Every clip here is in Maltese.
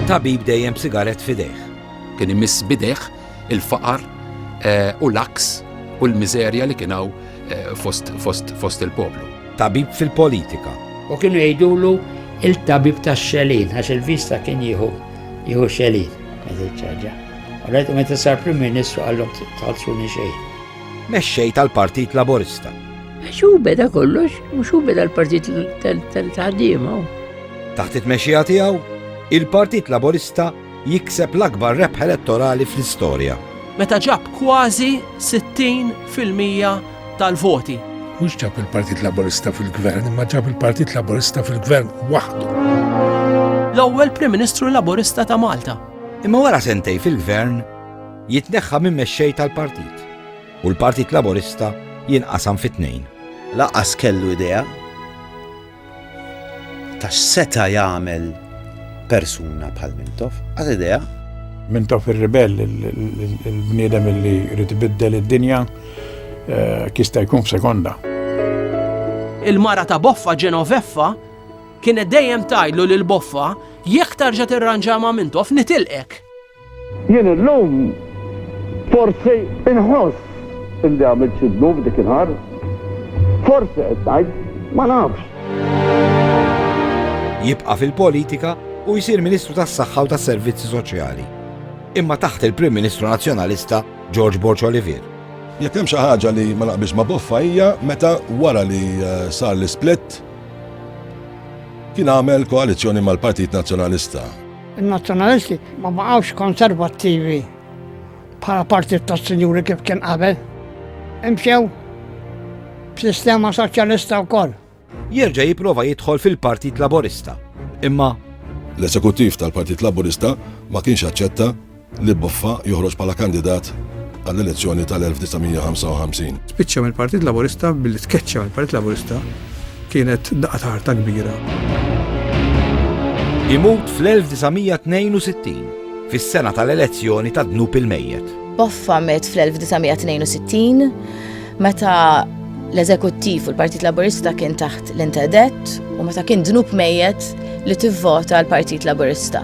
Tabib dejjem b'sigaret fidejh. Kien imiss bidejh il-faqar eh, u l-aks u l-miżerja li kien hawn eh, fost, fost, fost il-poplu. Tabib fil-politika. U kienu jgħidulu il-tabib ta' xelin, għax il-vista kien jieħu jieħu xelin, għazil ċaġa. Għalajtu meta sar prim ministru għallum tħalsuni xejn. Mexxej tal-Partit Laborista. Għax hu beda kollox, mhux hu beda l-Partit tal-Ħaddiema. Taħt it-tmexxija tiegħu, il-Partit Laburista jikseb l-akbar rebħ elettorali fl-istorja. Meta ġab kważi 60 fil-mija tal-voti. Mhux ġab il-Partit Laburista fil-gvern, imma ġab il-Partit Laburista fil-gvern waħdu. L-ewwel Prim Ministru Laburista ta' Malta. Imma wara sentej fil-gvern jitneħħa minn mexxej tal-partit. u l-Partit Laburista jinqasam fi tnejn. Lanqas kellu idea ta' x'seta' jagħmel persuna bħal Mintoff, għad idea. Mintoff ir-ribell, il-bniedem li jrid ibiddel id-dinja, eh, kista jkun f'sekonda. Il-mara ta' Boffa Ġenoveffa kienet dejjem tajlu lil Boffa jekk tarġa' tirranġa ma' Mintoff nitilqek. Jien illum forsi inħoss illi għamilt xi dnub dik il-ħar. Forsi qed ngħid, ma nafx. Jibqa' fil-politika u jsir Ministru tas-Saħħa u tas-Servizzi Soċjali. Imma taħt il-Prim Ministru Nazzjonalista George Borg Olivier. Jekk hemm xi ħaġa li ma naqbilx ma' Boffa hija meta wara li eh, sar l-isplit kien għamel koalizzjoni mal-Partit Nazzjonalista In-Nazzjonalisti ma baqgħux konservattivi bħala partit tas-sinjuri kif kien qabel. Imxew b'sistema soċjalista wkoll. Jerġa' jipprova jidħol fil-Partit Laburista, imma L-Esekuttiv tal-Partit Laburista ma kienx aċċetta li Boffa joħroġ bħala kandidat għall-elezzjoni tal-1955. Spiċċa mill-Partit Laburista billi tkeċċa mill-Partit Laburista kienet daqqa ta' ħarta kbira. Imut fl-1962, fis-sena tal-elezzjoni ta' Dnub il-Mejjet. Boffa met fl-1962 meta l-eżekuttiv u l-Partit Laburista kien taħt l-interdet u meta kien dnub mejjet li tivvota l-Partit Laburista.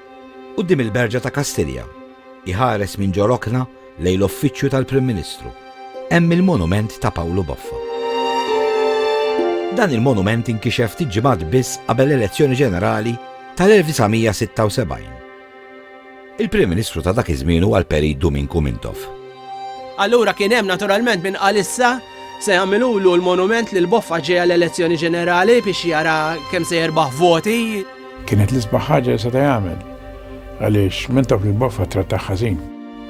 Quddiem il-Berġa ta' Kastilja, iħares minn ġo rokna lejn l-Uffiċċju tal-Prim Ministru, hemm il-monument ta' Pawlu Boffa. Dan il-monument inkixef ftit ġimgħat biss qabel l-elezzjoni ġenerali tal-1976. Il-Prim Ministru ta' dak iż-żmien huwa l-Perit Duminku Mintoff. Allura kien hemm naturalment min qal issa se jagħmilulu l-monument lil Boffa ġejja l-elezzjoni ġenerali biex jara kemm se jerbaħ voti. Kienet l-isbaħ ħaġa li seta' jagħmel għaliex minn taf li boffa trattaħ ħażin.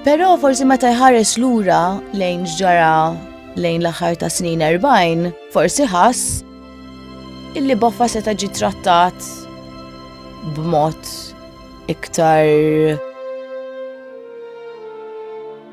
Però forsi meta jħares lura lejn ġara lejn l-aħħar ta' snin 40, forsi ħass illi boffa seta' ġi trattat b'mod iktar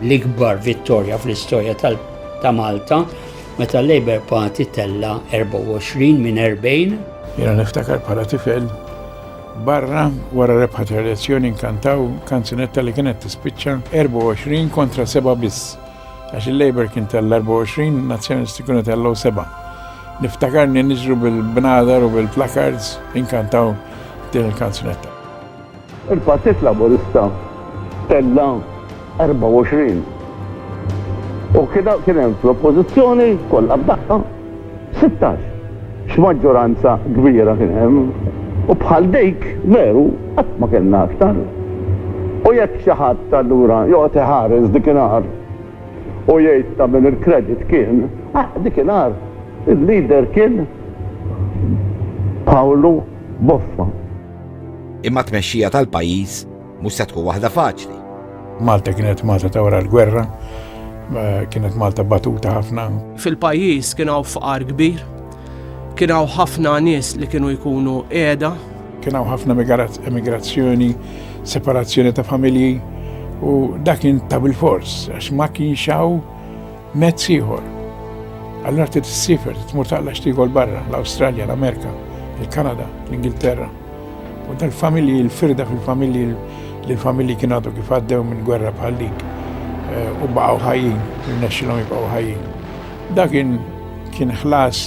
L-ikbar vittorja fl-istorja ta' Malta meta l-Labour Party tella 24 minn 40. Jiena niftakar bħala tifel barra wara rebħa ta' elezzjoni nkantaw kanzunetta li kienet tispiċċa 24 kontra 7 biss. Għax il-Labour kien tal-24, nazzjonisti kienu tal-law 7. Niftakarni niġru bil-bnadar u bil-placards inkantaw din il-kanzunetta. Il-Partit Laburista tella' 24 u kien hemm fl-Oppożizzjoni kollha f'daqqa 16. X'maġġoranza kbira kien hemm u bħal dik veru qatt ma kellna aktar. U jekk xi ħadd allura joqgħod iħares dikinhar u jgħid ta' min il-credit kien, ah dikinhar il-leader kien Pawlu Boffa. Imma t-tmexxija tal-pajjiż mhux se tkun waħda faċli. Malta kienet Malta ta' wara l-gwerra, kienet Malta batuta ħafna. Fil-pajjiż kien hawn fqar kbir, kien hawn ħafna nies li kienu jkunu qiegħda. Kien hawn ħafna emigrazzjoni, separazzjoni ta' familji u dak kien ta' bil-fors għax ma kienx hawn Mezz ieħor. Allura trid issiefer, tmur taqla xtigol barra, l-Awstralja, l-Amerika, il-Kanada, l-Ingilterra. U dal-familji, il-firda fil-familji, li l-familji kien għadu kif għaddew minn gwerra bħal dik eh, u baqgħu ħajjin, rnexxilhom jibqgħu ħajjin. Dak kien ħlas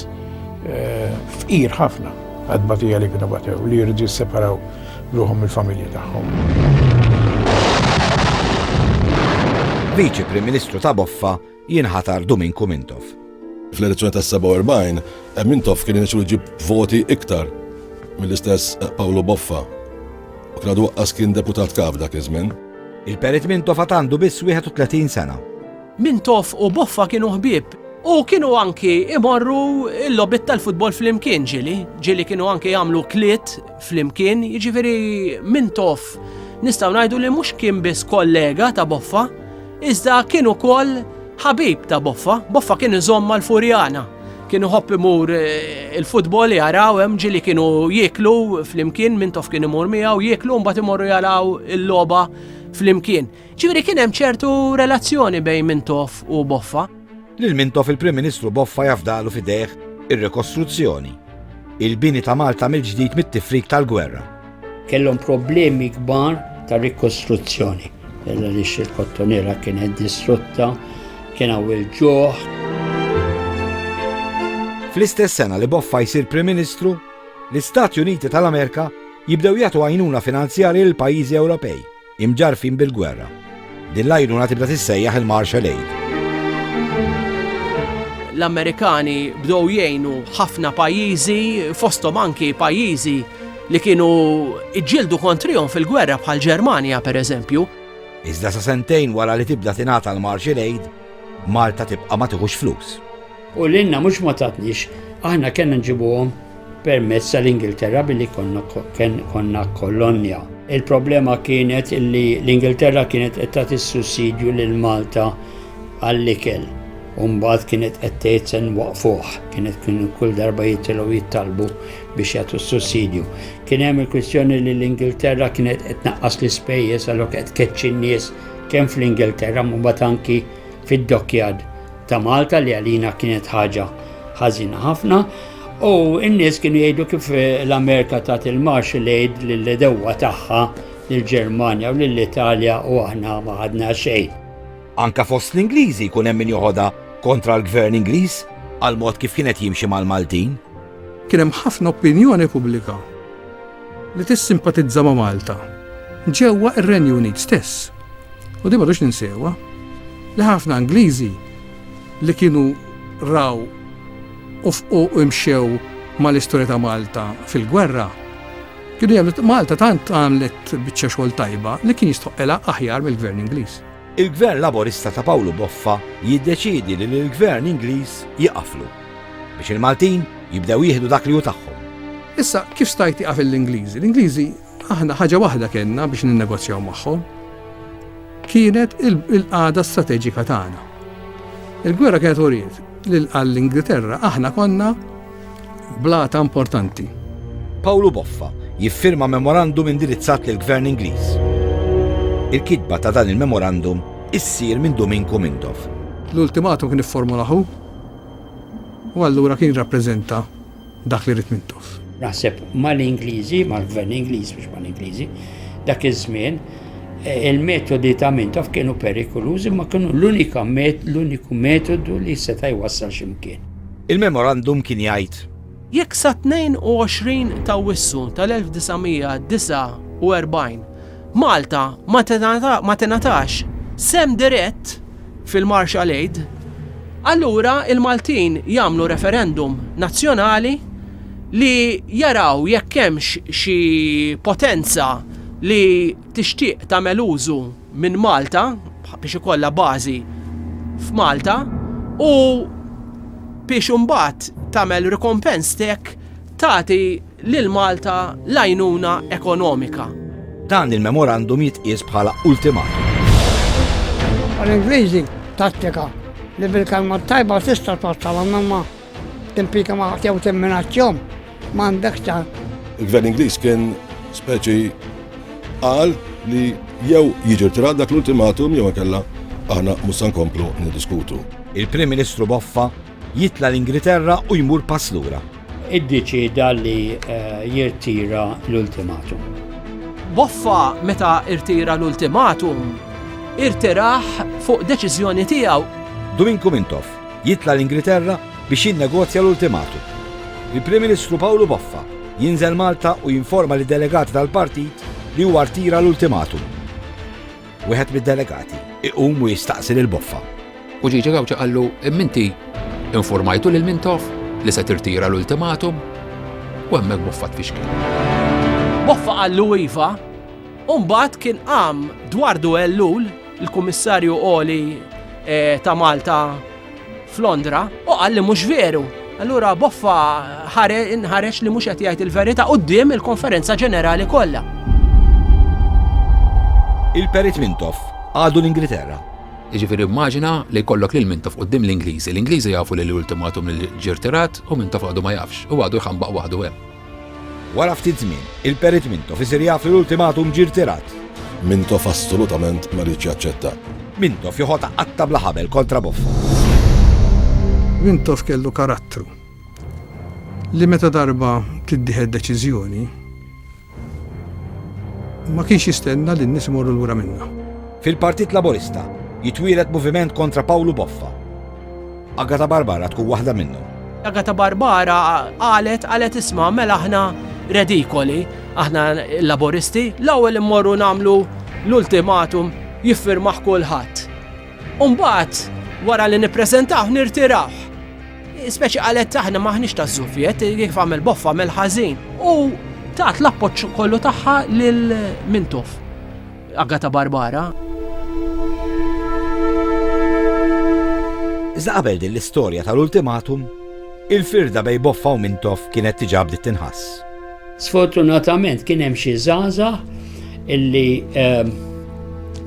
eh, fqir ħafna. Għat-tbatija li kienu batew, li jridu jisseparaw ruħhom mill-familji tagħhom. Viċi Prim Ministru ta' Boffa jinħatar Duminku Mintoff. Fl-elezzjoni tas-47, eh, Mintoff kien inixu jġib voti iktar mill-istess eh, Pawlu Boffa. U kien għadu kien deputat kaf dak iż-żmien. Il-Perit Mintoff għandu biss 31 sena. Mintoff u Boffa kienu ħbieb u kienu anki imorru l-logħbiet tal-futbol flimkien ġieli, ġieli kienu anki jagħmlu kliet flimkien, jiġifieri Mintoff nistgħu ngħidu li mhux kien biss kollega ta' Boffa, iżda kien ukoll ħabib ta' Boffa, Boffa kien iżomm mal-Furjana, kien iħobb imur il-futbol jaraw hemm ġieli kienu jieklu flimkien, Mintoff kien imur miegħu jieklu mbagħad imorru jaraw il-logħba flimkien. Ġifieri kien hemm ċertu relazzjoni bejn Mintoff u Boffa. Lil Mintoff il-Prim Ministru Boffa jafdalu f'idejh ir-rikostruzzjoni, il-bini ta' Malta mill-ġdid mit-tifrik tal-gwerra. Kellhom problemi kbar ta' rikostruzzjoni għaliex il-Kottonera kienet distrutta, kien hawn il-ġuħ. Fl-istess sena li Boffa jsir Prim Ministru, l-Istati Uniti tal-Amerika jibdew jagħtu għajnuna finanzjarja lill-pajjiżi Ewropej. Imġarrfin bil-gwerra. Din l-għajnuna tibda tissejjaħ il-Marshall Aid. L-Amerikani bdew jgħinu ħafna pajjiżi, fosthom anki pajjiżi li kienu iġġieldu kontrihom fil-gwerra bħal Ġermanja pereżempju. Iżda sa sentejn wara li tibda tingħata l-Marshall Aid, Malta tibqa' ma tieħux flus. U lilna mhux ma tatniex, aħna kellna nġibuhom permezz tal-Ingilterra billi konna kolonja. Il-problema kienet li l-Ingilterra kienet qed tagħti sussidju lil Malta għall-ikel. Umbagħad kienet qed tgħid se nwaqfuh, kienet kienu kull darba jitilgħu jittalbu biex jagħtu sussidju. Kien hemm il-kwistjoni li l-Ingilterra kienet qed naqqas l-ispejjeż għalhekk qed keċċi n-nies kemm fl-Ingilterra mbagħad anki fid-Dockyard ta' Malta li għalina kienet ħaġa ħażina ħafna u n-nies kienu jgħidu kif eh, l-Amerika tat il-Marshall Aid lill-edewwa tagħha lill-Ġermanja u lill-Italja u aħna ma ħadna xejn. Anka fost l-Ingliżi jkun hemm min joħodha kontra l-gvern Ingliż għal mod kif kienet jimxi mal-Maltin. Kien hemm ħafna opinjoni pubblika li tissimpatizza ma' Malta ġewwa r-Renju Unit stess. U din m'għadux ninsewha li ħafna Ingliżi li kienu raw u fqu u mxew mal-istorja ta' Malta fil-gwerra kienu jagħmlu Malta tant għamlet biċċa xogħol tajba li kien jistħoqqilha aħjar mill-Gvern Ingliż. Il-Gvern Laburista ta' Pawlu Boffa jiddeċiedi li lill-Gvern Ingliż jieqaflu. Biex il-Maltin jibdew jieħdu dak li hu tagħhom. Issa, kif stajt tieqaf lill-Ingliżi? L-Ingliżi, aħna ħaġa waħda kellna biex ninnegozjaw magħhom. Kienet il-qagħda strateġika tagħna. Il-gwerra kienet uriet li għall-Ingilterra aħna konna Blata importanti. Pawlu Boffa jiffirma memorandum indirizzat lil Gvern Ingliż. Il-kitba ta' dan il-memorandum issir minn Duminku Mindoff. L-ultimatum kien ifformulaħu u allura kien rappreżenta dak li rid Mintoff. Naħseb mal-Ingliżi, mal-Gvern Ingliż biex mal-Ingliżi, dak iż-żmien eh, il-metodi ta' Mintoff kienu perikolużi ma kienu l-unika l-uniku metodu li seta' jwassal ximkien. Il-memorandum kien jgħid. Jekk sat-22 t'Awwissu tal-1949 Malta ma tingħatax sehem dirett fil-Marshall Aid, allura il-Maltin jagħmlu referendum nazzjonali li jaraw jekk hemmx xi potenza li tixtieq tagħmel użu minn Malta biex ikollha bażi f'Malta u biex imbagħad tagħmel rikompens tek tagħti lil Malta l-għajnuna ekonomika. Dan il-memorandum jitqies bħala ultimatum. Bħall-Ingliżi, tattika li bil-kelma t-tajba tista' twassal għall-memma. Timpika ma' jew timminazzjom m'għandek ta'. Il-Gvern Ingliż kien speċi qal li jew jiġi rtirat dak l-ultimatum jew inkella aħna mhux se nkomplu niddiskutu. Il-Prim Ministru Boffa jitla' l-Ingriterra u jmur pass lura. Iddeċieda li jirtira l-ultimatum. Boffa meta rtira l-ultimatum, irtirah fuq deċiżjoni tiegħu. Duminku Mintoff Jitla' l-Ingilterra biex jinnegozja l-ultimatum. Il-Prim Ministru Pawlu Boffa jinżel Malta u jinforma lid-delegati tal-Partit li huwa rtira l-ultimatum. Wieħed mid-delegati iqum u jistaqsi lil Boffa. U Gigi Gauci qallu, Imma inti infurmajtu lil Mintoff li se tirtira l-ultimatum? U hemmhekk Boffa tfixkel. Boffa qallu iva, u mbagħad kien qam dwar Duell Lul, l-Kummissarju Għoli eh, ta' Malta f'Londra u qal li mhux veru. Allura Boffa ħareġ li mhux qed jgħid il-verità quddiem il-konferenza ġenerali kollha. Il-Perit Mintoff għadu l-Ingilterra. Iġifiri immaġina li jkollok lil Mintoff qoddim l-Ingliżi. L-Ingliżi jafu li l-ultimatum li ġirtirat u Mintoff għadu ma jafx u għadu jħambaq waħdu hemm. Wara ftit żmien, il-Perit Mintoff isir jaf li l-ultimatum ġie rtirat. Mintoff assolutament ma riedx jaċċetta. Mintoff joħodha qatta' bla ħabel kontra Boffa. Mintoff kellu karattru li meta darba tittieħed deċiżjoni ma kienx jistenna li n-nies imorru lura minnha. Fil-Partit Laburista jitwieled moviment kontra Pawlu Boffa. Agata Barbara tkun waħda minnhom. Agata Barbara qalet qalet isma' mela aħna redikoli, aħna l-laboristi, l-ewwel immorru nagħmlu l-ultimatum jiffirmaħ kulħadd. Umbagħad wara li nippreżentaw nirtiraw. Speċi qalet aħna maħniex ta' żufjet, kif għamel boffa għamel ħażin. U tat l-appoġġ kollu tagħha lil Mintoff. Agata Barbara. Iżda qabel din l-istorja tal-ultimatum, il-firda bejn Boffa u Mintoff kienet diġà bdiet tinħass. Sfortunatament kien hemm xi żgħażagħ illi ehm,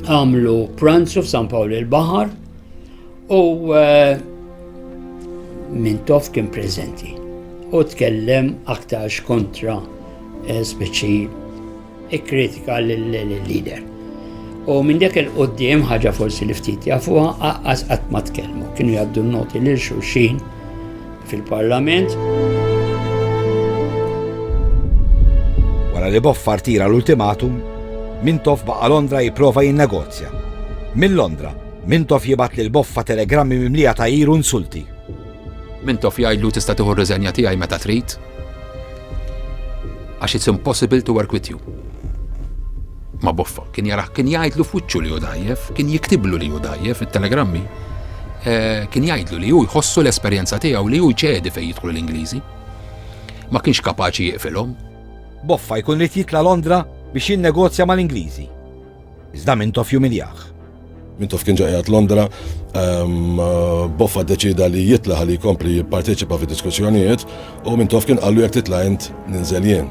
għamlu pranzu f'San Pawl il-Baħar u eh, Mintoff kien preżenti u tkellem aktarx kontra eh, speċi Ikkritika lill-leader. U minn dak il-qoddim ħaġa forsi li ftit jafuha aqqas qatt ma tkellmu. Kienu jgħaddu noti lil xulxin fil-Parlament. Wara li Boffar tira l-ultimatum, Mintoff baqa' Londra jipprova jinnegozja. Minn Londra, Mintoff jibat lil Boffa telegrammi mimlija ta' iru nsulti. Mintoff jgħidlu tista' tieħu r-riżenja tiegħi meta trid għax it's impossible to work with you. Ma boffa, kien jaraħ, kien jgħidlu f'wiċċu li hu dajjef, kien jiktiblu li hu dajjef it-telegrammi, eh, kien jgħidlu li hu jħossu l-esperjenza tiegħu li hu ċedi fejn jidħlu l-Ingliżi. Ma kienx kapaċi jiqfilhom. Boffa jkun rid jitla' Londra biex jinnegozja mal-Ingliżi. Iżda Mintoff jumiljah. Mintoff kien ġa qiegħed Londra, Boffa ddeċieda li jitla' ħalli jkompli jipparteċipa fid-diskussjonijiet u Mintoff kien qallu jekk titla' int ninżel jien.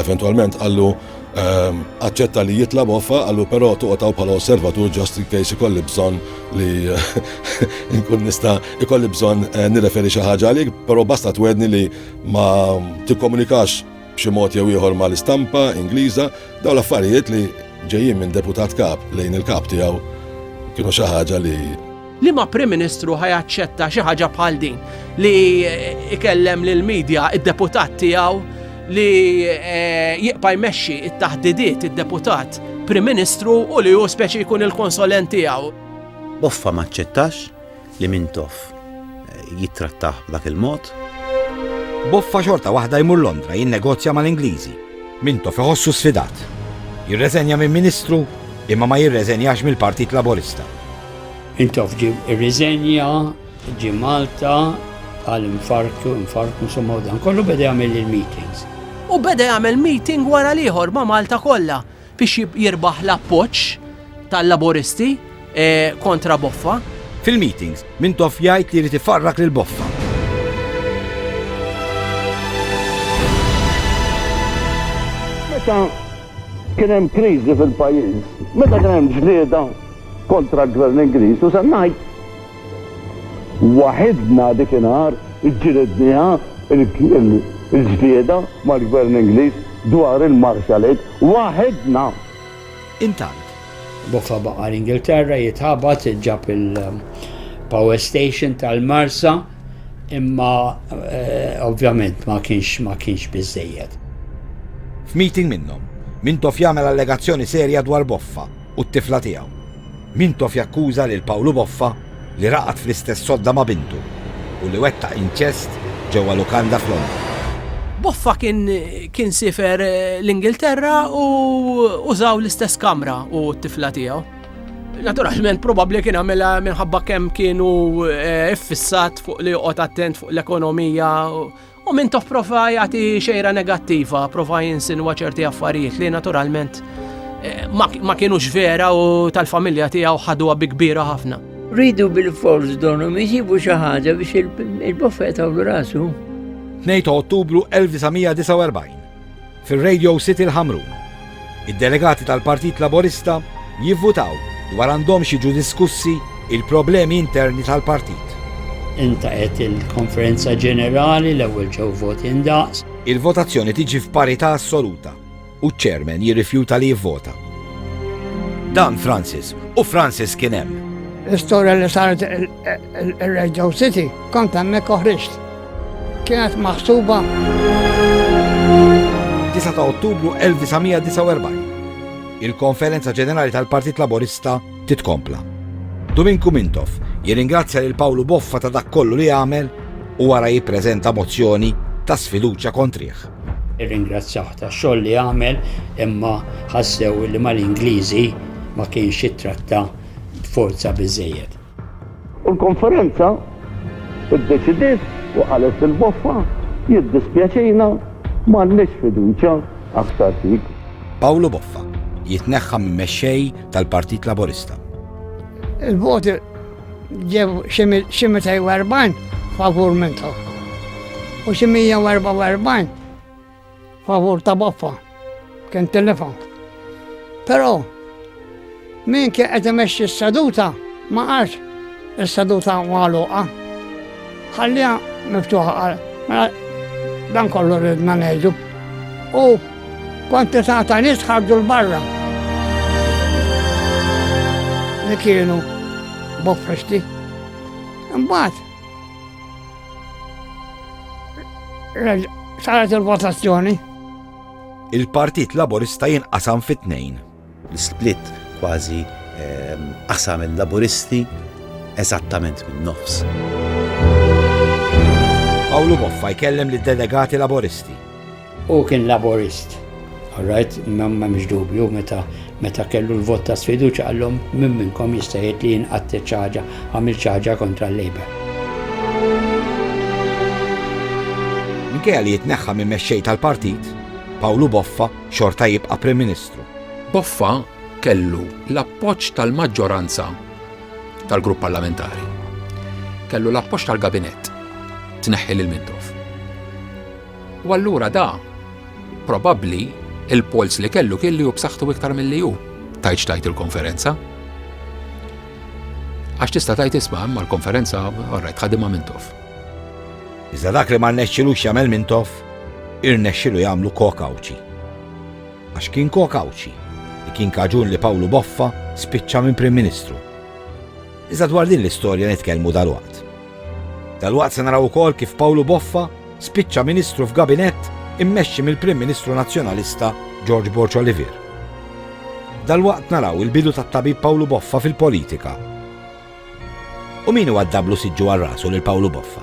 Eventwalment qallu aċċetta li jitla' Boffa, qallu però toqgħod hawn bħala osservatur just in case ikolli bżonn li nkun nista' ikolli bżonn nirreferi xi ħaġa għalik, però basta twegħdni li ma tikkomunikax b'xi mod jew ieħor mal-istampa Ingliża, dawn l-affarijiet li ġejjin minn Deputat Kap lejn il-Kap tiegħu kienu xi ħaġa li Liema Prim Ministru ħa jaċċetta xi ħaġa bħal din li ikellem lill-media d-deputat tiegħu li eh, jibqa' jmexxi t-taħdidiet id-deputat Prim Ministru u li hu speċi jkun il-konsolent tiegħu. Boffa ma aċċettax li Mintoff jittrattah b'dak il-mod. Boffa xorta waħda jmur Londra jinnegozja mal-Ingliżi. Mintoff iħossu sfidat. Jirreżenja minn Ministru imma ma jirreżenjax mill-Partit Laburista. Mintoff ġie rriżenja, ġie Malta, għal infarktu, infarktu insomma u dan kollu beda jagħmel il-meetings. U beda jagħmel meeting wara l-ieħor ma' Malta kollha. biex jirbaħ l-appoġġ tal-Laburisti kontra Boffa. Fil-meetings, Mintoff jgħid li jrid ifarrak lil Boffa. Meta kien hemm kriżi fil-pajjiż, meta kien hemm ġlieda kontra l-Gvern Ingliż u se ngħid Waħidna dikinhar ġġilidniha l-ġlieda mal-Gvern Ingliż dwar il-Marshall Aid. Waħidna! Intant, Boffa baqa' l-Ingilterra jitħabat, ġab il-power station tal-Marsa, imma ovvjament ma kienx ma kienx biżżejjed. F'meeting minnhom, Mintoff jagħmel allegazzjoni serja dwar Boffa u t-tifla tiegħu. Mintoff jakkuża lil Pawlu Boffa li raqad fl-istess sodda ma' bintu u li wettaq inċest ġewwa lukanda f'Londra. Boffa kien siefer l-Ingilterra u użaw l-istess kamra hu u t-tifla tiegħu. Naturalment probabbli kien għamilha minħabba kemm kien hu ffissat fuq li joqgħod attent fuq l-ekonomija U Mintoff prova jagħti xejra negattiva, prova jinsinwa ċerti affarijiet li naturalment eh, ma kienux vera u tal-familja tiegħu ħaduha bi kbira ħafna. Ridu bil-fors donhom jisibu xi ħaġa biex il-bofeta u rasu. 2 Ottubru 1949. Fir-Radio City l-Ħamrun, id-delegati tal-Partit Laburista jivvutaw dwar għandhomx jiġu diskussi il-problemi interni tal-partit. Intaqgħet il-Konferenza Ġenerali, l-ewwel ġew voti ndaqs. Il-votazzjoni tiġi f'parità assoluta u ċ-Chairman jirrifjuta li jivvota. Dan Francis u Francis kien hemm. L-istorja li saret ir-Radio City kont hemmhekk u ħriġt. Kienet maħsuba 9 ta' Ottubru 1949. Il-Konferenza Ġenerali tal-Partit Laburista titkompla. Duminku Mintoff jirringrazzja lil Pawlu Boffa ta' dak kollu li għamel u wara jippreżenta mozzjoni ta' sfiduċja kontrih. Irringrazzjah tax-xogħol li għamel imma ħassew li mal-Ingliżi ma kienx ittratta b'forza biżżejjed. U l-konferenza iddeċidiet u qalet lil Boffa, Jiddispjaċina, m'għandniex fiduċja aktar fik. Pawlu Boffa jitneħħa minn mexxej tal-Partit Laburista. Il-voti ġew xi 240 favur minn tagħhom u xi 144 Favur ta' baffa, kien telefon. Però min kien qed imexxi s-seduta ma qalx is-seduta magħluqa. Ħalliha miftuħa qal, mela dan kollu ridna ngħidu. U kwantità ta' nies ħarġu l-barra. Li kienu bofresti. Imbagħad Saret il-votazzjoni. Il-Partit Laburista jinqasam fit-tnejn. L-split kważi ehm, qasam il-Laburisti eżattament minn nofs. Pawlu Boffa jkellem lid delegati Laboristi. Hu kien Laburist. All right, m'hemmx dubju meta meta kellu l-vot ta' sfiduċja qallhom min minnkom jista' jgħid li jien qatt xi ħaġa għamilt xi ħaġa kontra l-Labour. Minkejja li jitneħħa minn mexxej tal-partit, Pawlu Boffa xorta jibqa' Prim Ministru. Boffa kellu l-appoġġ tal-maġġoranza tal-grupp parlamentari. Kellu l-appoġġ tal-gabinett tneħħi lil Mintoff. U allura da, probabbli, il-polz li kellu kien li hu b'saħħtu iktar milli hu. Tajtx tajt il-konferenza. Għax tista' tajt isma' imma l-konferenza orrajt ħadimha minn tof. Iżda dak li ma rnexxilux jagħmel minn tof, irnexxilu jagħmlu kokawċi. Għax kien kokawċi li kien kaġun li Pawlu Boffa spiċċa minn Prim Ministru. Iżda dwar din l-istorja nitkellmu dalwaqt. Dalwaqt se naraw ukoll kif Pawlu Boffa spiċċa Ministru f'Gabinett immexxi mill-Prim Ministru Nazzjonalista George Borg Olivier. Dalwaqt naraw il-bidu tat-Tabib Pawlu Boffa fil-politika. U min iwaddablu siġġu għal rasu lil Pawlu Boffa?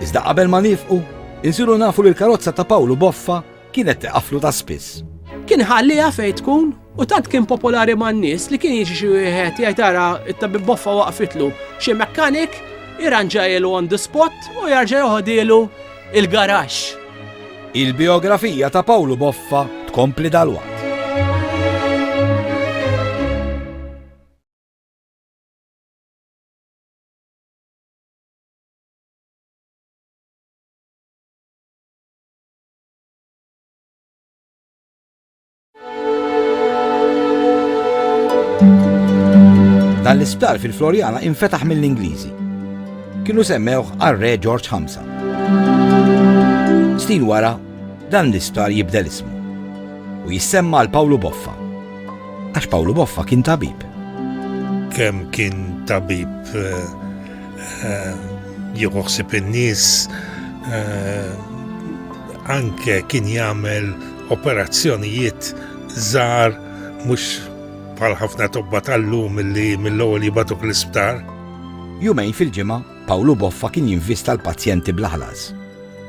Iżda qabel ma nifqu, insiru nafu li l-karozza ta' Pawlu Boffa Kienet tiqaflu ta' spiss. Kien iħalliha fejn tkun u tant kien popolari man-nies li kien jiġi xi wieħed jgħid ara t-tabib boffa waqfitlu xi mechanic irranġajlu on the spot u jarġa' joħodhielu il-garaxx. Il-bijografija ta' Pawlu Boffa tkompli dalwaqt. Dan l-isptar fil-Floriana infetaħ mill-Ingliżi. Kienu semmewh għar-Re George Hamza. Snin wara, dan l-isptar jibdel ismu u jissemma għal Pawlu Boffa. Għax Pawlu Boffa kien tabib. Kemm kien tabib eh, Jieħu ħsib in-nies anke kien jagħmel operazzjonijiet żgħar mhux bħal ħafna tobba tal-lum li mill-ewwel jibatuk l-isptar. Jumejn fil-ġimgħa, Pawlu Boffa kien jinvista l-pazjenti bl-ħlas.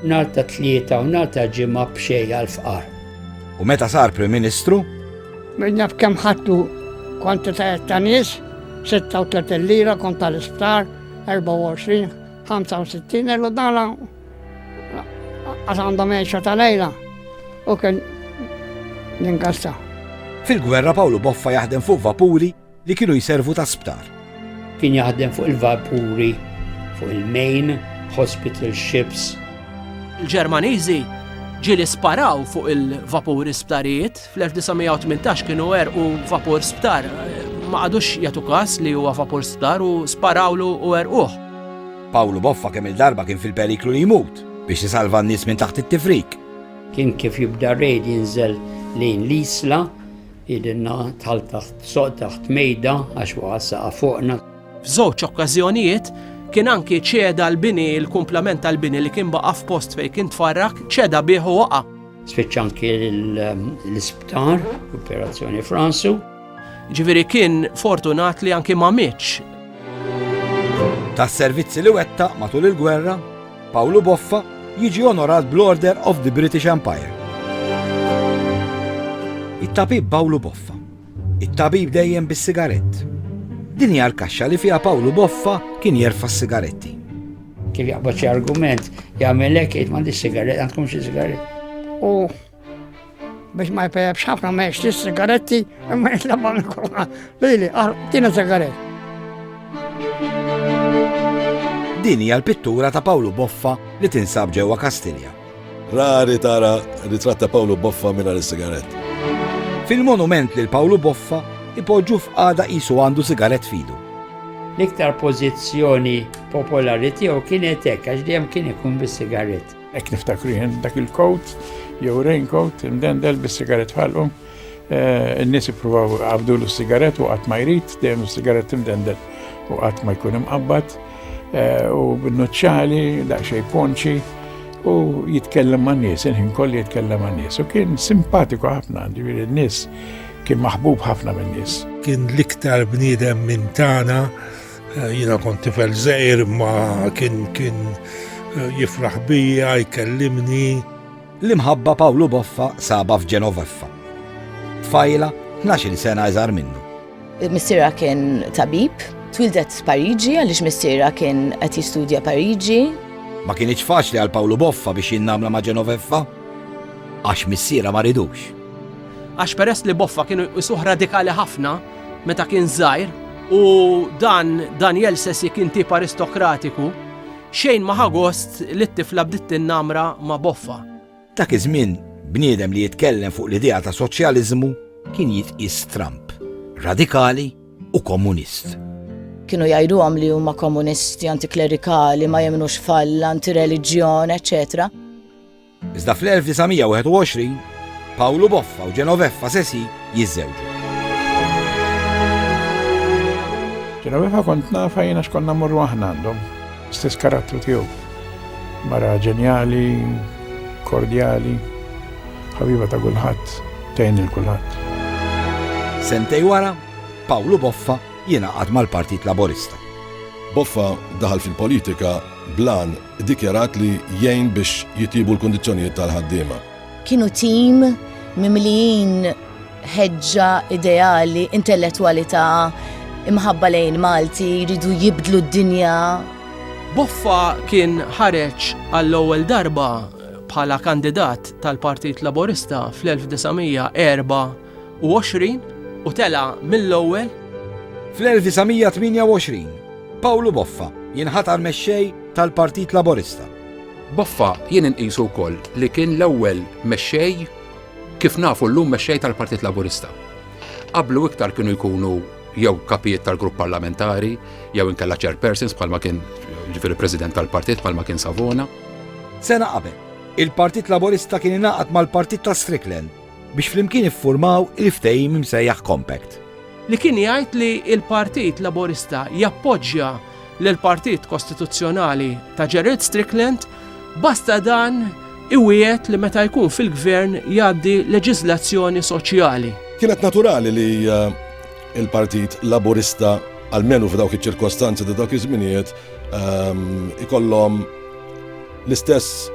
Nhar ta' tlieta u nhar ta' ġimgħa b'xejn għall-fqar. U meta sar Prim Ministru? Minn naf kemm ħadtu kwantitajiet ta' nies. 36 lira kont tal-isptar, 24, 65 euro dala għax għandhom għexa tal-lejla u kien l-inkassa. Fil-gwerra Pawlu Boffa jaħdem fuq vapuri li kienu jiservu ta' sptar. Kien jaħdem fuq il-vapuri, fuq il-main, hospital ships. Il-Ġermaniżi ġili sparaw fuq il-vapuri sptarijiet. Fl-1918 kienu għerqu vapur sptar. Ma qagħdux jagħtu każ li huwa vapur sptar u sparawlu u għerquh. Pawlu Boffa kemm-il darba kien fil-periklu li jmut biex isalva n-nies minn taħt it-tifrik. Kien kif jibda r-raid jinżel lejn l-Isla, jgħidilna dħalt taħt soqq taħt mejda għax waqa' s-saqaf fuqna. F'żewġ okkażjonijiet kien anki ċeda l-bini, il-kumplament tal-bini li kien baqa' f'post fejn kien tfarrak, ċeda bih u waqa'. Spiċċa anki l-isptar, operazzjoni Fransu. Ġifieri kien fortunat li anki ma mitx. Tas-servizzi li wettaq matul il-gwerra, Pawlu Boffa jiġi onorat bl-Order of the British Empire. It-tabib Pawlu Boffa It-tabib dejjem bis-sigarett. Din hija l-kaxxa li fiha Pawlu Boffa kien jerfa' s-sigaretti. Kif jaqbad xi argument, jagħmel hekk jgħid m'għandix sigarett, għandkom xi sigarett. U biex ma jpejab xafna ma jiex sigaretti imma jitlabba minn kurma. Lili, ah, tina sigaret. Din hija l-pittura ta' Pawlu Boffa li tinsab ġewwa Kastilja. Rari tara ritratt ta' Pawlu Boffa mingħajr is-sigarett. Fil-monument lil Pawlu Boffa ipoġġu f'qagħda qisu għandu sigarett f'idu. L-iktar pożizzjoni popolari tiegħu kienet hekk għax dejjem kien ikun bis-sigarett. Hekk niftakru jien dak il-coat jew raincoat imdendel bis-sigarett f'ħalqu. N-nies jippruvaw għabdulu s-sigaret u qatt ma jrid, dejjem s-sigaret timdendel u qatt ma jkun imqabbad u b'nuċċali daqsxejn ponċi u jitkellem ma' nies, il-ħin kolli jitkellem ma' nies. U kien simpatiku ħafna, ġifieri n-nies kien maħbub ħafna minn nies. Kien l-iktar bniedem minn tagħna, jiena kont tifel żgħir ma kien kien jifraħ bija, jkellimni. L-imħabba Pawlu Boffa saba f'Ġenoveffa. Tfajla, 12 sena iżgħar minnu. Missiera kien tabib, twildet Pariġi għaliex missiera kien qed jistudja Pariġi. Ma kienx faċli għal Pawlu Boffa biex jinnamla ma' Ġenoveffa għax missiera ma ridux. Għax peress li Boffa kienu isuħ radikali ħafna meta kien żgħir u dan Daniel Sessi kien tip aristokratiku Xejn ma ħa gost li t-tifla bdiet tinnamra ma' boffha. Dak iż-żmien, bniedem li jitkellem fuq l-idea ta' soċjaliżmu kien jitqies stramb, radikali u komunist. Kienu jgħiduhom li huma komunisti, antiklerikali, ma jemmnux f'Alla, antireliġjon, eċċetera. Iżda fl-1921, Pawlu Boffa u Genoveffa Sesi jiżżewġu. Genoveffa kont nafa jiena x'konna mmorru aħna għandhom, stess karattru tiegħu. Mara ġenjali, kordjali, ħabiba ta' kulħadd, tgħin il kulħadd. Sentej wara, Pawlu Boffa jingħaqad mal-Partit Laburista. Boffa daħal fil-politika blan iddikjarat li jgħin biex jitjiebu l-kundizzjonijiet tal-ħaddiema. Kienu tim mimlijin ħeġġa ideali, intellettwalità, imħabba lejn Malti, jridu jibdlu d-dinja. Boffa kien ħareġ għall-ewwel darba bħala kandidat tal-Partit Laburista fl-1904 1928 u tela' mill-ewwel. Fl-1928, Pawlu Boffa jinħatar Mexxej tal-Partit Laburista. Boffa jien inqisu wkoll li kien l-ewwel Mexxej, kif nafu llum Mexxej tal-Partit Laburista. Qablu iktar kienu jkunu jew Kapijiet tal-Grupp Parlamentari jew inkella Chairpersons bħalma kien, jiġifieri President tal-Partit bħalma kien Savona. Sena qabel, il-Partit Laburista kien ingħaqad mal-Partit ta' Strickland. biex flimkien iffurmaw il-ftehim imsejjaħ Compact. Li kien jgħid li l-Partit Laburista jappoġġja lill-Partit Kostituzzjonali ta' Gerald Strickland basta dan iwiegħed li meta jkun fil-Gvern jgħaddi leġiżlazzjoni soċjali. Kienet naturali li eh, il-Partit Laburista għalmenu f'dawk iċ-ċirkostanzi ta' dawk iż-żminijiet ehm, ikollhom L-istess,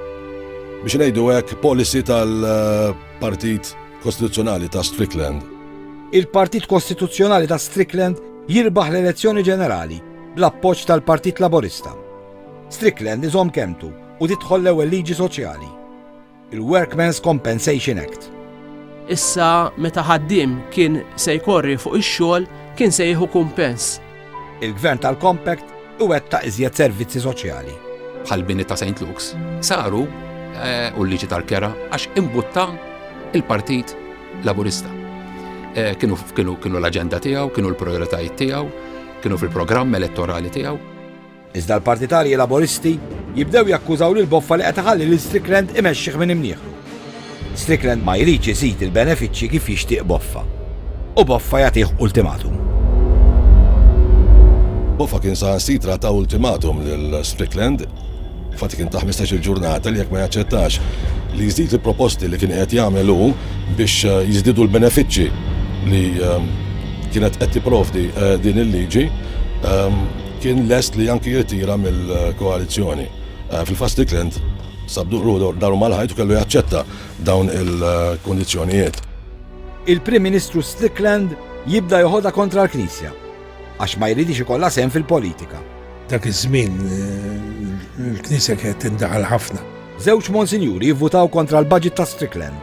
biex ngħidu hekk, policy tal-Partit Kostituzzjonali ta' Strickland. Il-Partit Kostituzzjonali ta' Strickland jirbaħ l-elezzjoni ġenerali bl-appoġġ tal-Partit Laburista. Strickland iżomm kelmtu u tidħol l-ewwel liġi soċjali. il-Workmen's Compensation Act. Issa meta ħaddiem kien se jkorri fuq ix-xogħol kien se jieħu kumpens. Il-Gvern tal-Compact iwettaq iżjed servizzi soċjali. Bħal bini ta' St. Luke's saru eh, u l-liġi tal-kera għax imbutta il-Partit Laburista. Eh, kienu l-aġenda tiegħu, kienu l-prioritajiet tiegħu, kienu fil-programm elettorali tiegħu. Iżda l-partitarji Laboristi jibdew jakkużaw lil Boffa li qed iħalli lil Strickland imexxih minn imnieħru. Strickland ma jridx iżid il-benefiċċji kif jixtieq Boffa. U Boffa jagħtih ultimatum. Boffa kien saħansitra ta ultimatum lil Strickland fatt kien ta' 15-il ġurnata li jekk ma jaċċettax li jizdid il-proposti li kien qed jagħmel hu biex eh, jiżdidu l-benefiċċji li eh, kienet qed tipprovdi eh, din il-liġi kien lest li anki jirtira mill-koalizzjoni. Fil-fatt Strickland sab ruħu daru mal-ħajt u kellu jaċċetta dawn il-kundizzjonijiet. Il-Prim Ministru Strickland jibda joħodha kontra l-Knisja għax ma jridix ikollha sehem fil-politika. Dak iż-żmien il-Knisja kienet tindaħal ħafna. Żewġ Monsinjuri jivvutaw kontra l-budget ta' Strickland.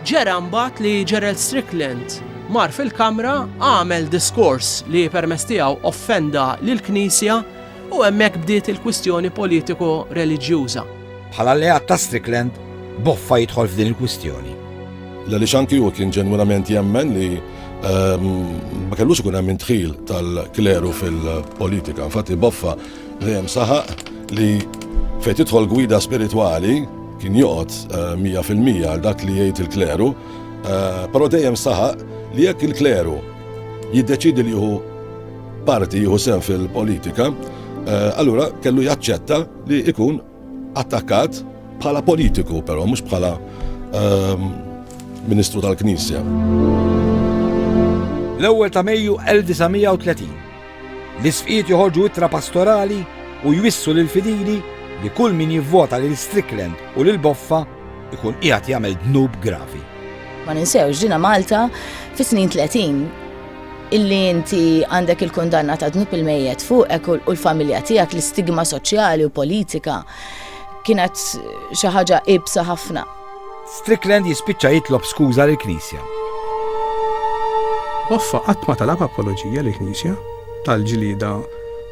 Ġara mbagħad li Gerald Strickland mar fil-Kamra, għamel diskors li permezz tiegħu offenda lill-Knisja u hemmhekk bdiet il-kwistjoni politiko-reliġjuża. Bħala alleat ta' Strickland, Boffa jidħol f'din il-kwistjoni. L-għaliex anki hu kien ġenwinament jemmen li ma kellux ikun hemm indħil tal-kleru fil-politika. Infatti Boffa Dejjem saħaq li fejn tidħol gwida spiritwali kien joqgħod 100% eh, għal dak li jgħid il-kleru, eh, però dejjem saħaq li jekk il-kleru jiddeċidi li jieħu parti jieħu sen fil-politika, eh, allura kellu jaċċetta li ikun attakkat bħala politiku, però mhux bħala ehm, ministru tal-Knisja. L-ewwel ta' Mejju 1930 L-Isqfijiet joħorġu ittra pastorali u jwissu lill-fidili li kull min jivvota lil Strickland u lil Boffa jkun qiegħed jagħmel dnub gravi. Ma ninsewx ġina Malta fis-snin 30 illi inti għandek il-kundanna ta' dnub il-mejjet fuqek u l-familja tiegħek l-istigma soċjali u politika kienet xi ħaġa ibsa ħafna. Strickland jispiċċa jitlob skuża lill-Knisja. Hoffa qatt ma talab apoloġija lill knisja tal-ġlieda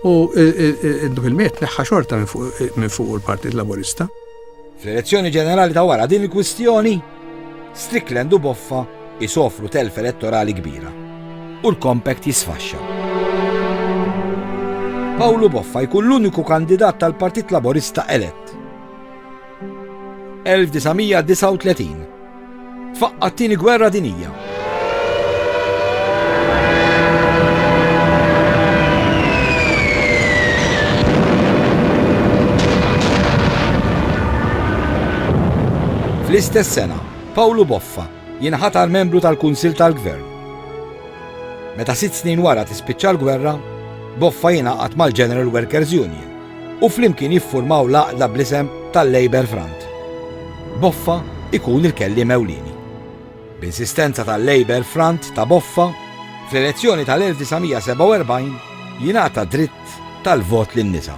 u dak il-miet neħħa xorta minn fuq il-Partit Laburista. Fl-elezzjoni ġenerali ta' wara din il-kwistjoni, Strickland u Boffa isofru telf elettorali kbira u l-kompakt jisfaxxa. Pawlu Boffa jkun l-uniku kandidat tal-Partit Laburista elett. 1939 Tfaqqa t-tieni gwerra dinija. Fl-istess sena, Pawlu Boffa jinħatar membru tal-Kunsil tal-Gvern. Meta sitt snin wara tispiċċa l-gwerra, Boffa jingħaqad mal-General Workers Union u flimkien jiffurmaw l-għaqda bl-isem tal-Labour Front. Boffa ikun il-kelliem ewlieni. B'insistenza tal-Labour Front ta' Boffa, fl-elezzjoni tal-1947 jingħata dritt tal-vot lin-nisa.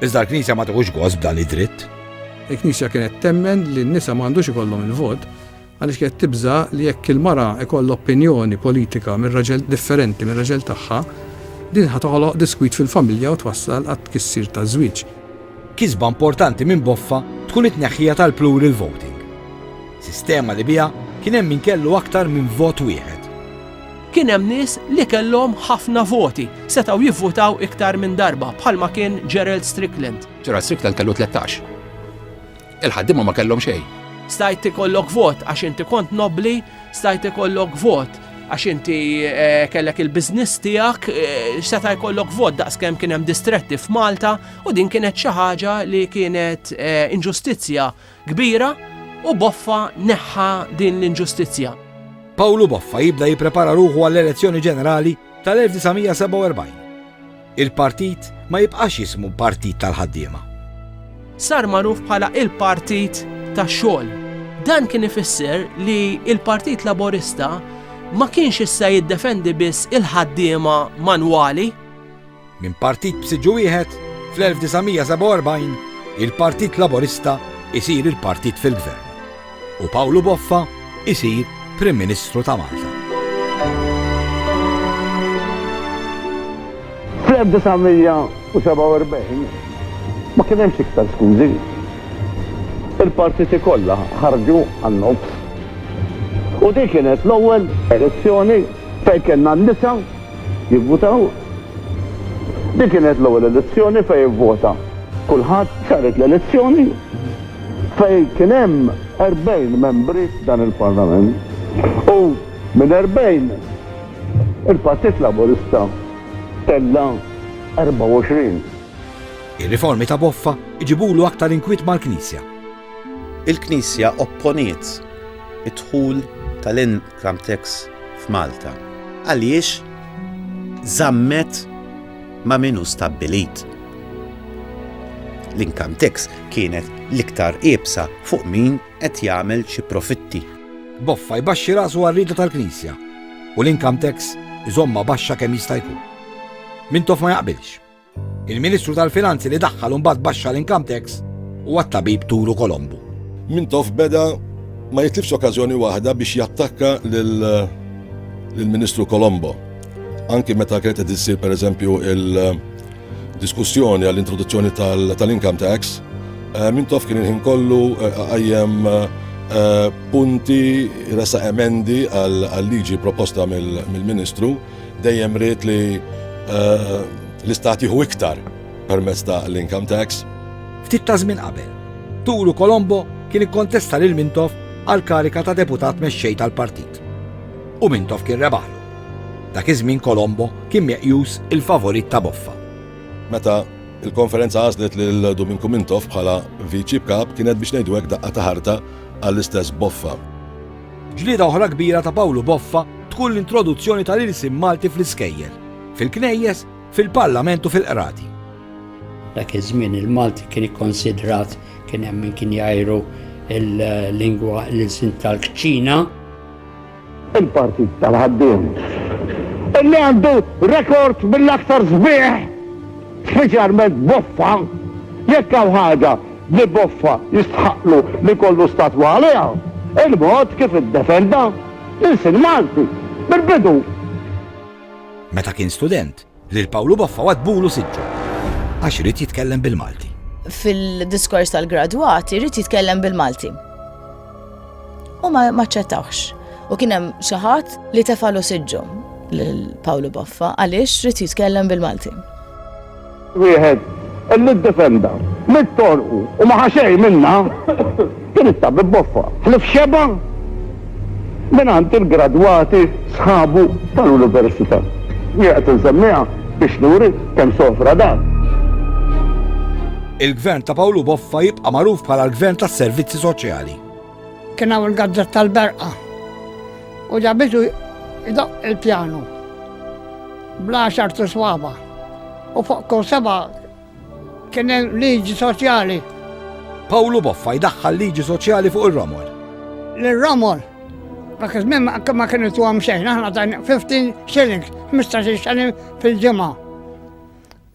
Iżda l-Knisja ma tieħux gost b'dan id-dritt. Il-Knisja kienet temmen li n-nisa ma għandux ikollhom il-vot, Għaliex kienet tibża' li jekk il-mara jkollha opinjoni politika mir-raġel differenti mir-raġel tagħha, din ħa toħloq diskwit fil-familja u twassal għat-tkissir taż-żwieġ. Kisba importanti minn Boffa tkun it-tneħħija tal-plural voting, sistema li biha kien hemm min kellu aktar minn vot wieħed. Kien hemm nies li kellhom ħafna voti, setgħu jivvutaw iktar minn darba, bħalma kien Gerald Strickland. Gerald Strickland kellu tlettax. Il-ħaddiema ma kellhom xejn. Stajt ikollok vot għax inti kont nobbli, stajt ikollok vot għax inti eh, kellek il-biznis tiegħek eh, seta' jkollok vot daqskemm kien hemm distretti f'Malta u din kienet xi ħaġa li kienet eh, inġustizzja kbira u Boffa neħħa din l-inġustizzja. Pawlu Boffa jibda jipprepara ruħu għall-elezzjoni ġenerali tal-1947. Il-partit ma jibqax jismu Partit tal-Ħaddiema. Sar magħruf bħala il-Partit tax-Xogħol. Dan kien ifisser li l-Partit Laburista ma kienx issa jiddefendi biss il-ħaddiema manwali. Minn partit b'siġġu wieħed, fl-1947 il-Partit Laburista jsir il-partit fil-gvern. u Pawlu Boffa jsir Prim Ministru ta' Malta. Fl-1947 ma kien hemmx iktar skużi. Il-partiti kollha ħarġu għan-nofs. U din kienet l-ewwel elezzjoni fejn kellna n-nisa jivvutaw. Din kienet l-ewwel elezzjoni fejn ivvota kulħadd, saret l-elezzjoni. fejn kien hemm 40 membri f'dan il-Parlament u minn 40 il-Partit Laburista tella' 24. Ir-riformi ta' Boffa jġibulu aktar inkwiet mal-Knisja. Il-Knisja opponiet id-dħul tal-income tax f'Malta għaliex żammet ma' min hu stabbilit. L-income tax kienet l-iktar iebsa fuq min qed jagħmel xi profitti. Boffa jbaxxi rasu għar-rieda tal-Knisja u l-income tax iżommha baxxa kemm jista' jkun. Mintoff ma jaqbilx. Il-Ministru tal-Finanzi li daħħal u mbagħad baxxa l-income tax huwa t-tabib Turu Kolombu. Mintoff beda ma jitlifx okkażjoni waħda biex jattakka lill-Ministru Kolombo. Anki meta kienet qed issir pereżempju il-diskussjoni għall-introduzzjoni tal-income tax, eh, minn tof kien il-ħin kollu eh, għajjem eh, punti resa emendi għal-liġi proposta mill-Ministru dejjem rrit li l-istat jieħu iktar permezz ta' l-income tax. Ftit ta' żmien qabel, Turu Kolombo kien ikkontesta lil Mintoff għal karika ta' deputat mexxej tal-partit. U Mintoff kien rebaħlu. Dak iż-żmien Colombo kien meqjus il-favorit ta' Boffa. Meta l-konferenza għażlet lil Duminku Mintoff bħala Viċi Kap kienet biex ngħidu hekk daqqa ta' ħarta għall-istess Boffa. Ġlieda oħra kbira ta' Pawlu Boffa tkun l-introduzzjoni tal-ilsien Malti fl-iskejjel, fil-knejjes, fil-Parlament u fil-Qrati. Dak iż-żmien il-Malti kien ikkonsidrat, kien hemm min kien jgħajru l-lingwa, l-ilsien tal-kċina. il-Partit tal-Ħaddiem, li għandu rekord mill-aktar sbieħ, speċjalment Boffa, jekk hawn ħaġa li Boffa jistħaqqlu li jkollu statwa għaliha, il-mod kif iddefenda l-ilsien Malti mill-bidu. Meta kien student, Lil Pawlu Boffa waddbulu siġġu għax ried jitkellem bil-Malti. Fil-diskors tal-gradwat irid jitkellem bil-Malti. U ma ċċettawx. U kien hemm xi ħadd li tefalu siġġu lil Pawlu Boffa għaliex ried jitkellem bil-Malti. Wieħed illi ddefenda mit-torqu u ma ħaxej minna Tiritta bi boffa ħlief xebgħa mingħand il-gradwati sħabu tal-Università. Jien qed insemmiha biex nuri kemm sofra dan. Il-Gvern ta' Pawlu Boffa jibqa' magħruf bħala l-Gvern tas-Servizzi Soċjali. Kien hawn il-gazzetta l-berqa u ġabitu jdoqq il-pjanu bl-għaxart iswaba' u fuq kull seba' Kien hemm liġi soċjali. Pawlu Boffa jdaħħal liġi soċjali fuq ir-romol. L-romol Dak iż-żmien ma kienu tuhom xejn, aħna dan 15 shillings, 15 shilling fil-ġimgħa.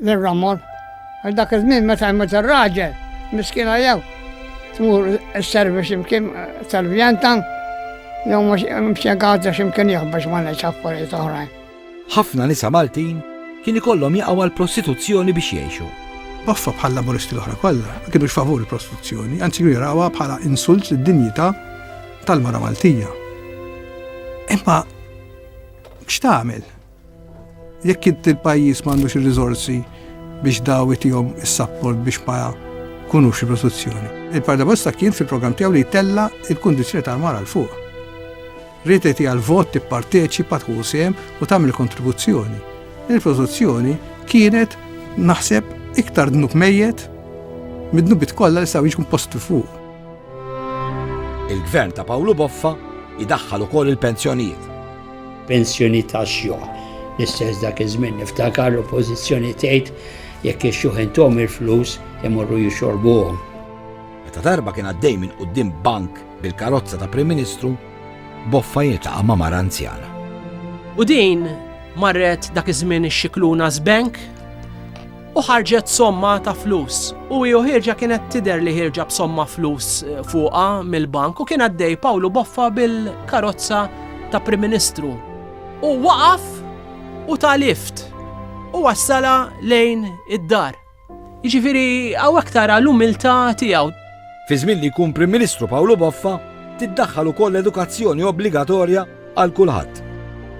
L-ramor. Dak iż-żmien meta jmut ir-raġel, miskina jew tmur is-service imkien eh, tal-vjantan, jew mhux imxegħata x'imkien jieħbex ma ngħidx affarijiet oħrajn. Ħafna nisa Maltin kien ikollhom jaqgħu għall-prostituzzjoni biex jgħixu. Baffa bħal-Laburisti l-oħra kollha ma kinux favur il-prostituzzjoni, anzi kienu jarawha bħala insult lid-dinjità tal-mara Maltija. Imma x'tagħmel jekk int il-pajjiż m'għandux ir-riżorsi biex daw itihom is-sapport biex ma kunux il-prostituzzjoni. Il-Pardabosta kien fil-programm tiegħu li jtella il-kundizzjoni tal-mara l fuq. Rrid li tieha l-vot, tipparteċipa, tħu sehem u tagħmel kontribuzzjoni. Din il-filosozzjoni kienet naħseb iktar dnub mejjet mid-dnubit kollha li saw jiġkun postu fuq. Il-gvern ta' Pawlu Boffa idaħħal ukoll il-pensjonijiet. Pensjoni ta' xjuħ. L-istess dak iż-żmien niftakar l-oppożizzjoni tgħid jekk ix-xjuħ intom il-flus imorru jixorbuhom. Meta darba kien għaddej minn quddiem bank Bil-karozza ta' Prim Ministru, Boffa jiltaqa' ma' mara anzjana. U din marret dak iż-żmien ix-Scicluna's Bank u ħarġet somma ta' flus. U hi u ħierġa kienet tidher li ħierġa b'somma flus eh, fuqha mill-bank u kien għaddej Pawlu Boffa bil-karozza ta' Prim Ministru. U waqaf u ta' lift u wassala lejn id-dar. Jiġifieri hawnhekk tara l-umiltà tiegħu. Fi żmien li jkun Prim Ministru Pawlu Boffa, tiddaħħal ukoll edukazzjoni obbligatorja għal kulħadd.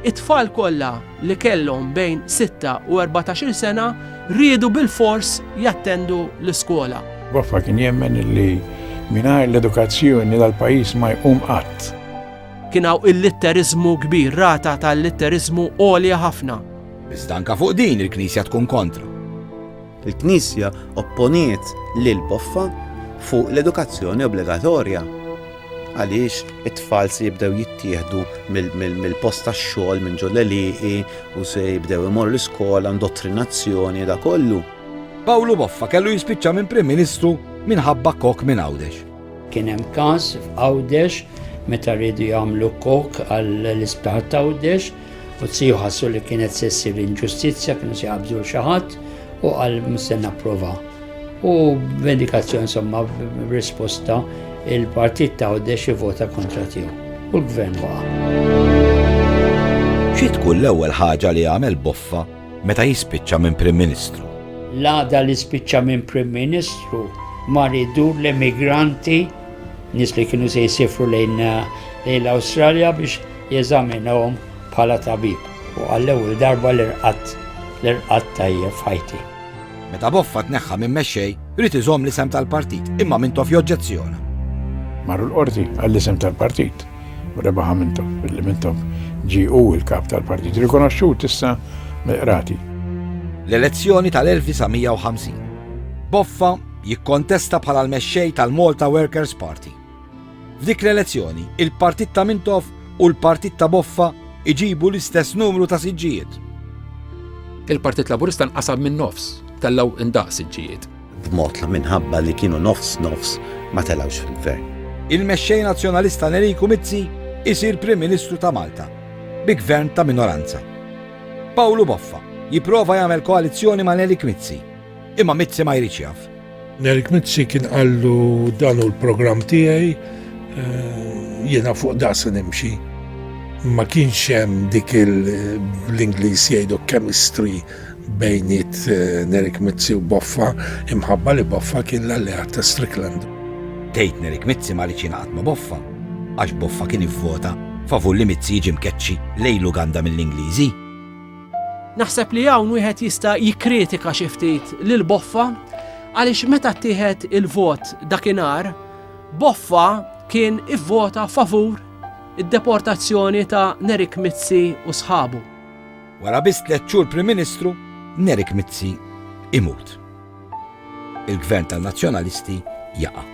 It-tfal kollha li kellhom bejn sitta u erbatax-il sena riedu bilfors jattendu l-iskola. Boffa kien jemmen li mingħajr l-edukazzjoni dal-pajjiż ma jqum qatt. Kien hawn illitteriżmu kbir, rata ta' illitteriżmu għolja ħafna. Iżda anke fuq din il-Knisja tkun kontra. Il-Knisja opponiet lil Boffa fuq l-edukazzjoni obbligatorja għaliex it-tfal se jibdew jittieħdu mill-post tax-xogħol minn ġol għelieqi u se jibdew imorru l-iskola, indottrinazzjoni da kollu. Pawlu Boffa kellu jispiċċa minn Prim Ministru minħabba kok minn Għawdex. Kien hemm każ f'Għawdex meta rridu jagħmlu kok għall-isptar t'Għawdex U t-siju ħassu li kienet se ssir inġustizzja, kienu se jgħabdu xi ħadd u qal se napprova. U vendikazzjoni insomma risposta il-partit ta' Għoddex vota kontra tiegħu. U l-gvern waqa'. Xi tkun l-ewwel ħaġa li għamel Boffa meta jispiċċa minn Prim Ministru? L-għada li spiċċa minn Prim Ministru ma ridur l-emigranti nis li kienu se jisifru lejn l-Awstralja biex Jeżaminahom bħala tabib u għall-ewwel darba l-irqadt, l-irqadd tajjeb f'ħajti. Meta Boffa tneħħa minn mexxej, ried iżomm l-isem tal-partit, imma Mintoff joġġezzjona. Marru l-Qorti għall-isem tal-partit u rebaħha Mintoff, billi Mintoff ġie hu l-kap tal-partit rikonoxxut issa mill-qrati. L-elezzjoni tal-1950. Boffa jikkontesta bħala l-mexxej tal-Malta Workers' Party. F'dik l-elezzjoni, il-partit ta' Mintoff u l-partit ta' Boffa iġibu l-istess numru ta' siġġijiet. Il-Partit Laburista nqasam min-nofs, tellgħu indaqs siġġijiet. B'mod li minħabba li kienu nofs nofs ma telgħux fil-Gvern. Il-Mexxej Nazzjonalista Neriku Mizzi jsir Prim Ministru ta' Malta bi Gvern ta' minoranza. Pawlu Boffa jipprova jagħmel koalizzjoni ma' Nerik Mizzi. Imma Mizzi ma jridx jaf. Nerik Mizzi kien qallu dan hu l-programm tiegħi eh, jiena fuq da se nimxi. Ma kienx hemm dik l-Ingliż jgħidu chemistry bejniet eh, Nerik Mizzi u Boffa imħabba li Boffa kien l-alleat ta' Strickland. Tgħid Nerik Mizzi ma rridx jingħaqad ma' Boffa għax Boffa kien ivvota favur li Mizzi jiġi mkeċċi lejn Uganda mill-Ingliżi. Naħseb li hawn wieħed jista' jikkritika xi ftit lil Boffa għaliex meta ttieħed il-vot dakinhar, Boffa kien ivvota favur id-deportazzjoni ta' Nerik Mizzi u sħabu. Wara biss tliet xhur Prim Ministru, Nerik Mizzi imut. il-Gvern tan-Nazzjonalisti jaqa'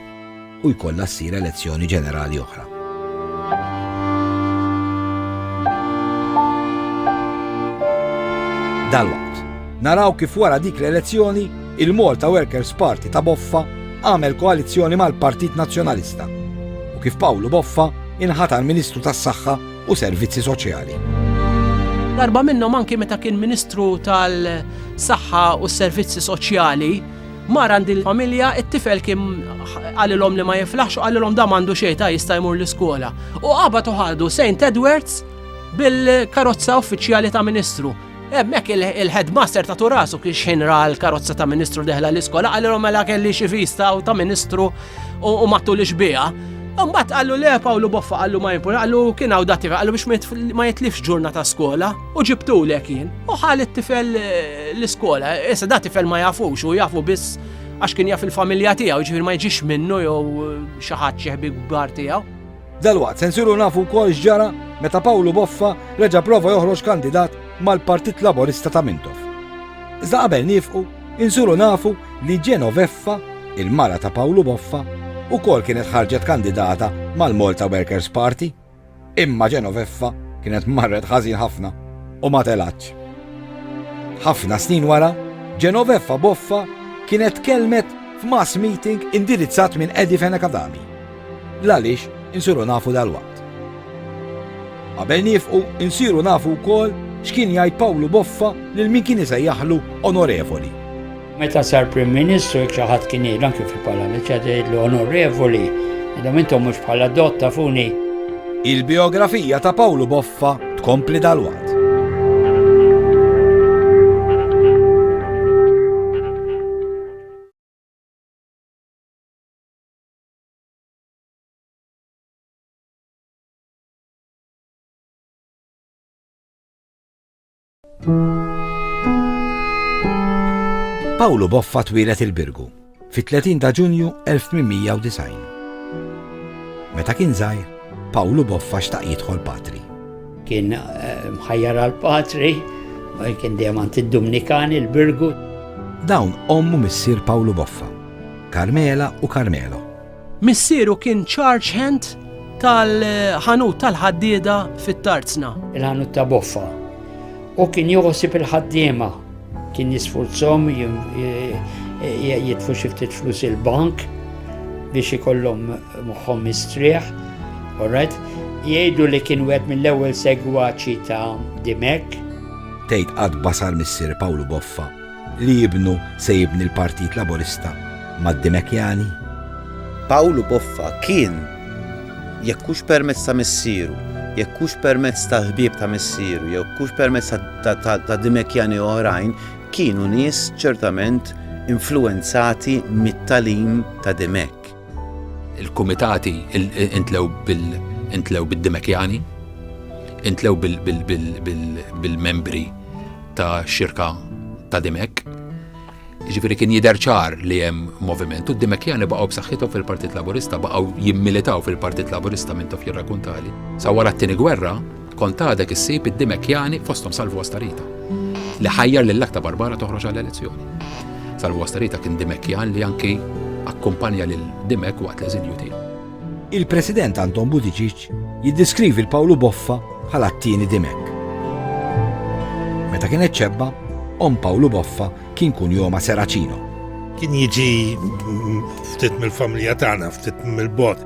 u jkollha ssir elezzjoni ġenerali oħra. Dalwaqt, naraw kif wara dik l-elezzjoni il-Malta Workers Party ta' Boffa għamel koalizzjoni mal-Partit Nazzjonalista u kif Pawlu Boffa inħatar Ministru tas-Saħħa u servizzi soċjali. Darba minnhom anki meta kien Ministru tal-Saħħa u s-Servizzi Soċjali, mar għandi l-familja, it-tifel kien għalilhom li ma jiflaħx u għalilhom da mandu xejta jista' jmur l-iskola. U qabad uħadu St. Edwards bil-karozza uffiċjali ta' Ministru. Hemmhekk il-headmaster ta' turasu kien xejn ra l-karozza ta' ministru deħla l-iskola għalilhom mela kelli xi vista u ta' ministru u mattu li xbija. Mbagħad qallu le Pawlu Boffa qallu ma jimpur, qallu kien hawn dati qallu biex ma jitlifx ġurna ta' skola u ġibtu lek jien. U ħal it-tifel eh, l-iskola, issa da tifel ma jafux u jafu biss għax kien jaf il-familja tiegħu, ġifier ma jġix minnu jew eh, xi ħadd xi ħbib kbar tiegħu. Dalwaqt se nsiru nafu wkoll x'ġara meta Pawlu Boffa reġa' prova joħroġ kandidat mal-Partit Laburista ta' Mintoff. Iżda qabel niefqu, insiru nafu li Genoveffa, il-mara ta' Pawlu Boffa, ukoll kienet ħarġet kandidata mal-Malta Workers Party. Imma Genoveffa kienet marret ħażin ħafna u ma telgħatx. Ħafna snin wara, Genoveffa Boffa kienet tkellmet f'mass meeting indirizzat minn Eddie Fenech Adami. L-għaliex insiru nafu dalwaqt. Qabel niefqu nsiru nafu wkoll x'kien jgħid Pawlu Boffa lil min kien isejjaħlu onorevoli. Meta sar Prim Ministru jekk xi ħadd kien jgħidlu anke fil-Parlament xi ħadd jgħidlu onorevoli, għadhom intom mhux bħala dott tafuni. Il-bijografija ta' Pawlu Boffa tkompli dalwaqt. Pawlu Boffa twilet il-Birgu fit-30 ta' Ġunju 1890. Meta kien żgħir, Pawlu Boffa xtaq jidħol patri. Kien eh, mħajjar għal patri, kien dejjem għand id-Dumnikan il-Birgu. Dawn ommu missier Pawlu Boffa. Carmela u Carmelo. Missieru kien charge hand tal-ħanut tal-ħaddieda fit-Tarzna. Il-ħanut ta' Boffa. U kien joħosib il-ħaddiema. Kien jisfurzhom jitfu xi ftit flus il-bank biex ikollhom moħħhom mistrieħ. Alright? Jgħidu li kien wieħed mill-ewwel segwaċi ta' Dimek. Tgħid qatt basar missier Pawlu Boffa Li ibnu se jibni l-Partit Laburista mad-Dimekjani? Pawlu Boffa kien, jekk hux permezz ta' missieru, jekk hux permezz tal-ħbieb ta' missieru, jekk hux permezz ta' Dimekjani oħrajn, kienu nies ċertament influwenzati mit-tagħlim ta' Dimek. Il-kumitati intlew bid-Dimekjani, intlew bil-membri ta' xirka ta' Dimek. Ġifiri kien jider ċar li hemm moviment u d-Dimekjani baqgħu b'saħħithom fil-Partit Laburista baqgħu jimmilitaw fil-Partit Laburista minn tof jirrakuntali. Sa wara t-tieni gwerra, Kont għadek issib id-Dimekjani fosthom Salvu Astarita, li ħajjar lil Akta Barbara toħroġ għall-elezzjoni. Salvu Astarita kien Dimekjan li anki akkumpanja lil Dimek waqt l-eżilju tiegħu. Il-President Anton Buttigieg jiddeskrivi l Pawlu Boffa bħala t-tieni Dimek. Meta kienet ċebba, om Pawlu Boffa kien kun joma Seracino. Kien jiġi ftit mill-familja tagħna, ftit mill-bot.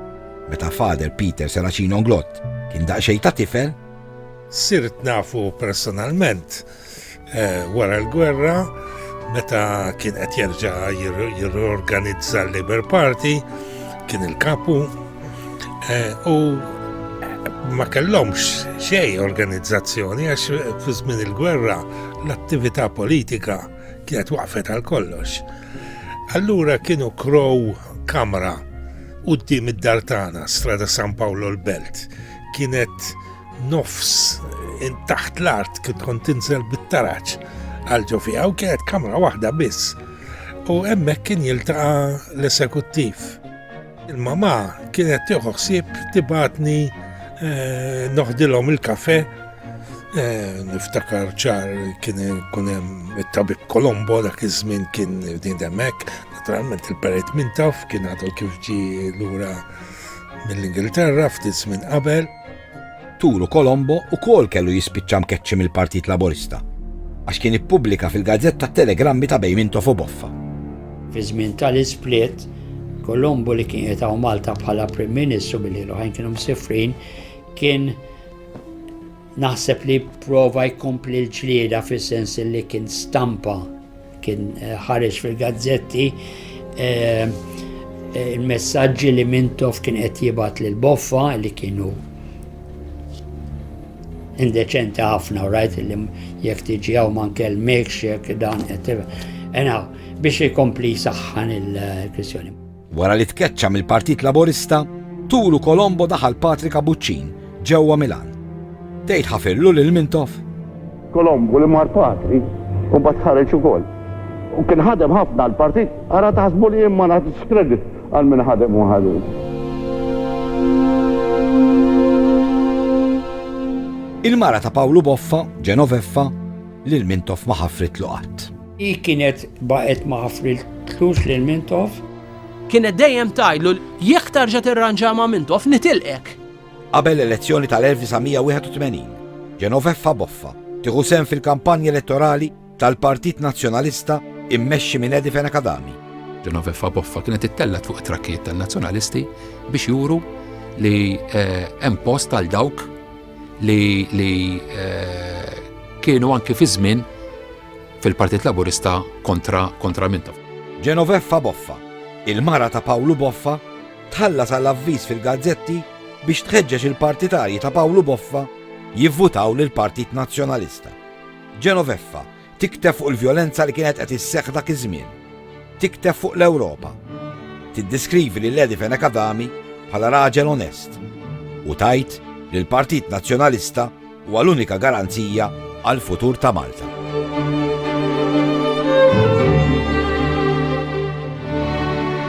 Meta Father Peter Serracino Englot kien daqsxejn ta' tifel, Sirt nafu personalment wara l-gwerra meta kien qed jerġa' jirriorganizza l-Labour Party, kien il-kapu u ma kellhomx xejn organizzazzjoni għax fi żmien il-gwerra l-attività politika kienet waqfet għal kollox. Allura kienu krow kamra qudiem id-dar tagħna, Strada San Paolo l-Belt. Kienet nofs in taħt l-art kien kont tinżel bit-taraġ għal ġo fiha u kienet kamra waħda biss. U hemmhekk kien jiltaqa' l-esekuttiv. Il-mamà kienet tieħu ħsieb tibatni eh, noħdilhom il-kafe eh, niftakar ċar kien ikun hemm it-tabib Kolombo dak iż-żmien kien din hemmhekk, naturalment il-perit minn taf kien għadu kif ġi lura mill-Ingilterra ftit żmien qabel. Turu Colombo ukoll kellu jispiċċa mkeċċi mill-Partit Laburista għax kien ippubblika fil-gazzetta t-telegrammi ta' bejn Mintoff u Boffa. Fi żmien tal-isplit, Colombo li kien qiegħed hawn Malta bħala Prim Ministru billi l-oħrajn kienu msifrin, kien naħseb li prova jkompli l-ġlieda fis-sens li kien stampa Kien ħareġ fil-gazzetti il-messaġġi li Mintoff kien qed jibgħat lil Boffa li kienu indeċenti ħafna u rajt li jekk tiġi hawn ma nkellmekx jekk dan qed biex ikompli saħħan il-kwistjoni. Wara li tkeċċa mill-Partit Laburista, tulu Colombo daħal Patrick Abuċċin ġewwa Milan. Tgħid ħafirlu lil Mintoff? Colombo li mar Patri u mbagħad ħareġ ukoll. U kien ħadem ħafna l-partit, ara taħsbu li jien ma nagħtix kredit għal min ħadem u ħadem. Il-mara ta' Pawlu Boffa, Genoveffa, lil Mintoff ma ħafritlu qatt. Hi kienet baqgħet ma ħafriltlux lil Mintoff. Kienet dejjem tajlu jekk tarġa' tirranġa ma' Mintoff nitilqek. Qabel l-elezzjoni tal-1981, Genoveffa Boffa tieħu sem fil-kampanja elettorali tal-Partit Nazzjonalista immexxi minn Edi Fenakadami. Genoveffa Boffa kienet ittellat fuq it-trakkijiet tan-Nazzjonalisti biex juru li eh, hemm post għal dawk li eh, kienu anki fi żmien fil-Partit Laburista kontra kontra minta. Genoveffa Boffa, il-mara ta' Pawlu Boffa, tħallas għal avviż fil-gazzetti biex tħeġġeġ il-partitarji ta' Pawlu Boffa jivvutaw lill-Partit Nazzjonalista. Genoveffa tikteb fuq il-vjolenza li kienet qed isseħħ dak iż-żmien. Tikteb fuq l-Ewropa. Tiddeskrivi lil Edi Fenech Adami bħala raġel onest u tajt li l-Partit Nazzjonalista Huwa l-unika garanzija għall-futur ta' Malta.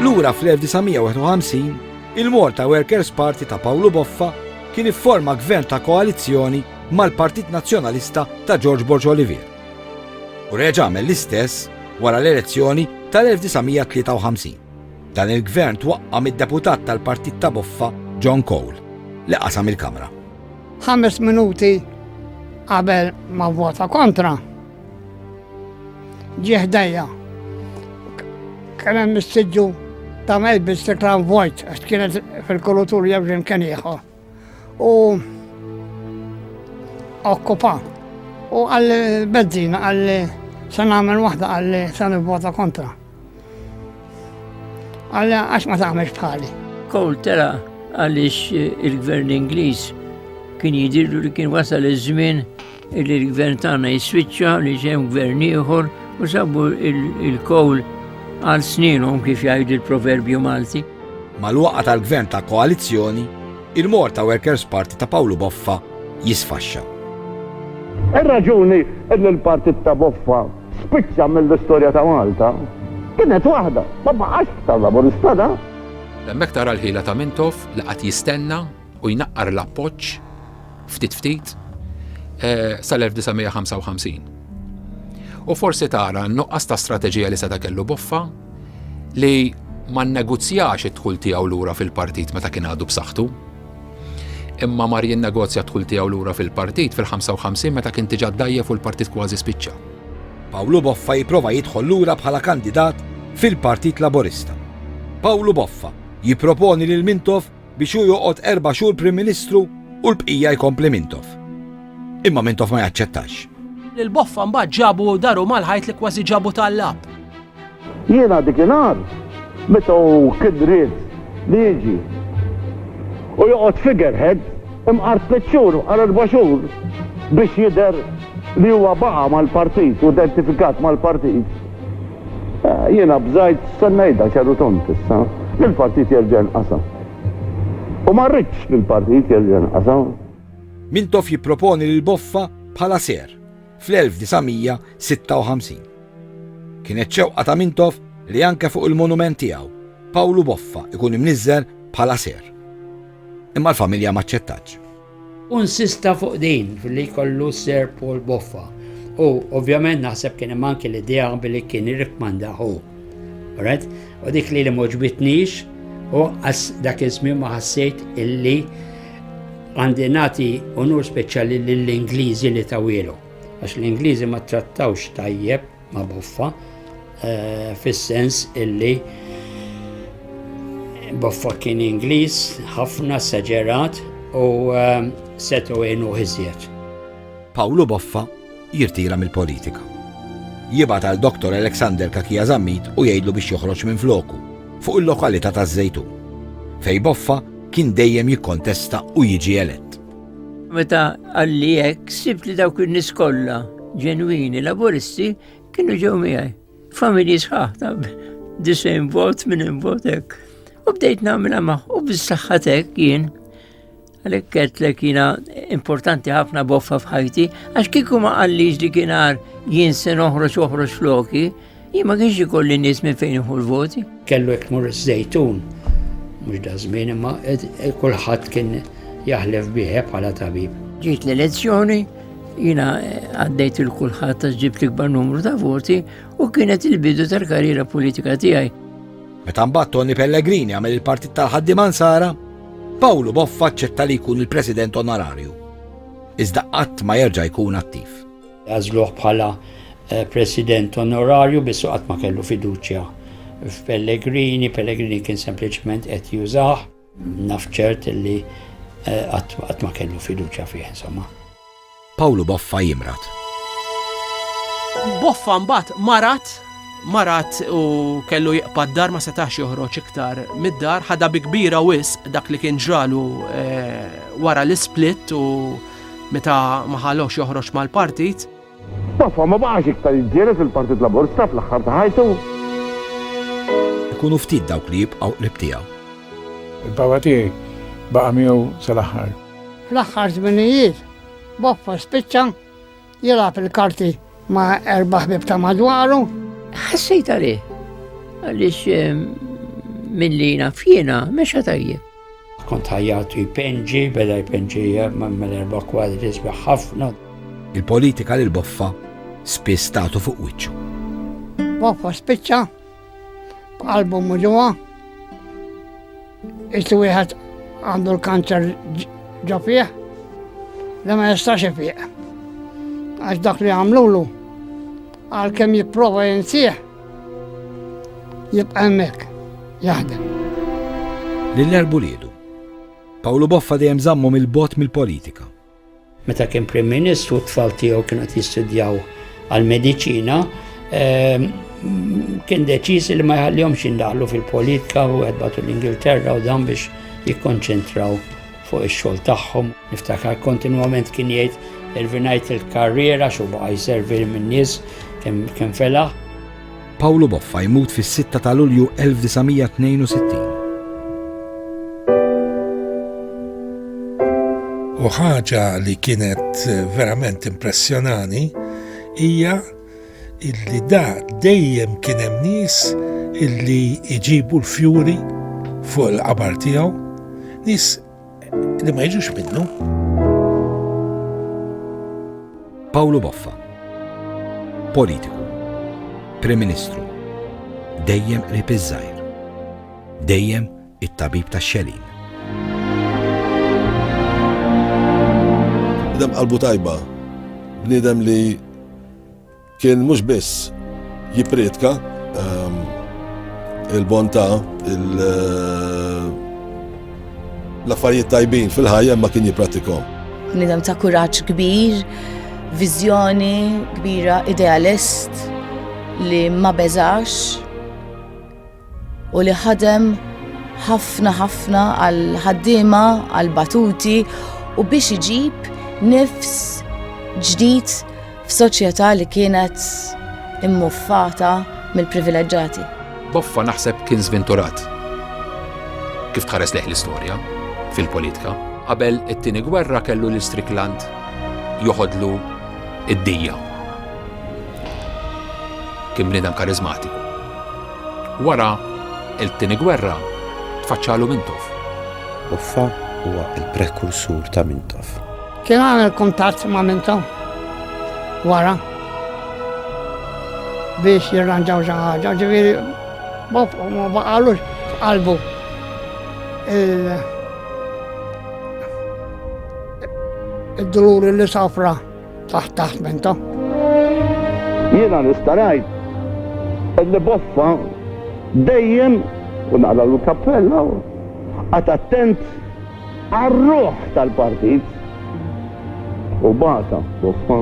Lura fl-1951, il-Malta Workers Party ta' Pawlu Boffa kien ifforma gvern ta' koalizzjoni mal-Partit Nazzjonalista ta' George Borg Olivier. U reġa' għamel l-istess wara l-elezzjoni tal-1953. Dan il-gvern twaqqa mid-deputat tal-Partit ta' Boffa John Cole li qasam il-Kamra. Ħames minuti qabel ma vota kontra, ġieħ dajja. Kienem missiġu ta' melbi s-sekran vojt, għax kienet fil-kulutur jemġin kien ieħor. U okkupa. U għalli bezzina, għalli se nagħmel waħda għalli se nivvota kontra. Alla għax ma tagħmel bħali. Kowl tera għaliex il-gvern Ingliż kien jidirlu li kien wasal iż-żmien li l-gvern tagħna jiswiċċa li ġem gvern ieħor u sabu il-kowl għal sninhom kif jgħidu l-proverbju Malti. Mal-waqa tal-gvern ta' koalizzjoni, il-Morta Workers Party ta' Pawlu Boffa jisfaxxa. Ir-raġuni li l-partit ta' Boffa spiċċa mill-istorja ta' Malta, kienet waħda, ma baqax tal-Laburista dan. Hemmhekk tara l-ħila ta' Mintoff li qagħad jistenna u jnaqqar l-appoġġ ftit ftit sal-1955. U forsi tara n-nuqqas ta' strateġija li seta' kellu Boffa li ma nnegozjax id-dħul tiegħu lura fil-partit meta kien għadu b'saħħtu. Imma mar jinnegozja d-dħul tiegħu lura fil-partit fil-55 meta kien diġà dgħajjef u l-partit kważi spiċċa. Pawlu Boffa jipprova jidħol lura bħala kandidat fil-Partit Laburista. Pawlu Boffa jipproponi lil Mintoff biex hu joqgħod erba' xhur Prim Ministru u l-bqija jkompli Mintoff. Imma Mintoff ma jaċċettax. Lil Boffa mbagħad ġabu daru mal-ħajt li kważi ġabu tallab. Jiena dik inhar meta hu kien ried li jiġi u joqgħod figurehead imqar tliet xhur imqar erba' xhur biex jidher li huwa baqa' mal-partit u identifikat mal-partit, jiena bżajt se ngħidha ċaru tond issa, li l-partit jerġa' jinqasam. U ma rridx li l-partit jerġa' jinqasam. Mintoff jipproponi lil Boffa bħala ser. fl-1956. Kienet xewqa ta' Mintoff li anke fuq il-monument tiegħu, Pawlu Boffa ikun imniżżel bħala ser. Imma l-familja m'aċċettatx. Hu insista fuq din, li jkollu Sir Paul Boffa, u ovvjament naħseb kien hemm anke l-idea billi kien irrikkmanda hu. Alright? U dik li li m'għoġbitnix, u dak iż-żmien ma ħassejt illi Għandi nagħti unur speċjali lill-Ingliżi li tawilu, għax l-Ingliżi ma trattawx tajjeb ma' boffa, eh, fis-sens illi boffa kien Ingliż ħafna saġerat u eh, setu għenu iżjed. Pawlu Boffa jirtira mill-politika. Jibgħat għal Dottor Alexander Kakia Zammit u jgħidlu biex joħroġ minn floku fuq il-lokalità taż-Żejtun, fej Boffa kien dejjem jikkontesta u jiġi elett. Meta għalli hekk sibt li dawk in-nies kollha ġenwini laburisti kienu ġew miegħi. Familji sħaħ ta' disejn vot minn vot hekk. U bdejt nagħmilha magħ u bis-saħħa jien Għalek għetlek jina importanti ħafna boffa fħajti, għax kiku ma għalliġ li kienar jien se noħroġ uħroġ floki, jien ma kienx ikolli nies minn fejn iħu l-voti. Kellu jek mur iż-żejtun, mux da żmien imma kulħadd kien jaħlef biħe bħala tabib. Ġiet l-elezzjoni, jina għaddejt il-kulħadd ta' ġibt l-ikbar numru ta' voti u kienet il-bidu tal-karriera politika tiegħi. Meta mbagħad Toni Pellegrini għamel il-Partit tal-Ħaddiema Nsara, Pawlu Boffa aċċetta li jkun il-President Onorarju. Iżda qatt ma jerġa' jkun attiv. Għażluh bħala eh, President Onorarju biss qatt ma kellu fiduċja f'Pellegrini, Pellegrini kien sempliċement qed jużah. Naf ċert li qatt ma kellu fiduċja fih, insomma. Pawlu Boffa jimrad. Boffa mbagħad marad marat u kellu jiqpa d-dar ma setax joħroġ iktar mid-dar, ħadha bi kbira wisq dak li kien ġralu eh, wara l-isplit u meta maħalox joħroġ mal-partit. Baffa ma baqax iktar jiġġieled fil-Partit Laburista fl-aħħar ta' ħajtu. Ikunu ftit dawk li jibqgħu qrib tiegħu. Il-Papa tiegħi baqa' miegħu sal-aħħar. Fl-aħħar żminijiet, Baffa spiċċa jilgħab il-karti ma' erba' ħbieb ta' madwaru. Ħassejt għalih għaliex ehm, milli naf jiena mexa tajjeb. Kont ħajjatu jpenġi, beda jpenġi mal erba' kwadri sbieħ ħafna. Il-politika lil Boffa spiss tagħtu fuq wiċċu. Boffa spiċċa, qalbu muġuha, istu wieħed għandu l-kanċer ġo fih, li ma jistax ifiq. Għax dak li għamlulu, għal kem jipprova jinsieħ, Jibqa' hemmhekk jaħdem. Lil erb uliedu. Pawlu Boffa dejjem żammhom 'il bogħod mill-politika. Meta kien Prim Ministru t-tfal tiegħu kienu qed jistudjaw għall-mediċina, kien deċiż li ma jħallihomx jindaħlu fil-politika u qed batu l-Ingilterra u dan biex jikkonċentraw fuq ix-xogħol tagħhom. Niftakar kontinwament kien jgħid irvinajt il-karriera xu baqa' jservi min-nies kemm felaħ. Pawlu Boffa jmut fis-6 ta' Lulju 1962. U ħaġa li kienet verament impressjonani hija illi da dejjem kien hemm nies illi jġibu l-fjuri fuq il-qabar tiegħu, nies li ma jiġux minnu. Pawlu Boffa, politiku, Prim Ministru, dejjem qrib iż-żgħir, dejjem it-tabib tax-xelin. Bniedem qalbu tajba, bniedem li kien mhux biss jipprietka ehm, il-bontà, eh, l-affarijiet tajbin fil-ħajja ma kien jippratikom. Bniedem ta' kuraġġ kbir, viżjoni kbira, idealist li ma beżax u li ħadem ħafna ħafna għal ħaddiema għal batuti u biex iġib nifs ġdid f'soċjetà li kienet immuffata mill-privileġġati. Boffa naħseb kien żvinturat. Kif tħares leħ l-istorja fil-politika, qabel it-tieni gwerra kellu l-istrikland joħodlu id-dija. Kien bniedem karizmatiku. Wara t-Tieni Gwerra tfaċċalu Mintoff. Offa huwa l-prekursur ta' Mintoff. Kien għamel kuntatt ma' Mintoff wara biex jirranġaw xi ħaġa, ġifieri b'offa ma baqalux f'qalbu il-dulur li sofra. Taħt taħt menta. Jiena nistarajt illi boffa dejjem u naqla l-kappella għat attent għarruħ tal-partit u bata boffa.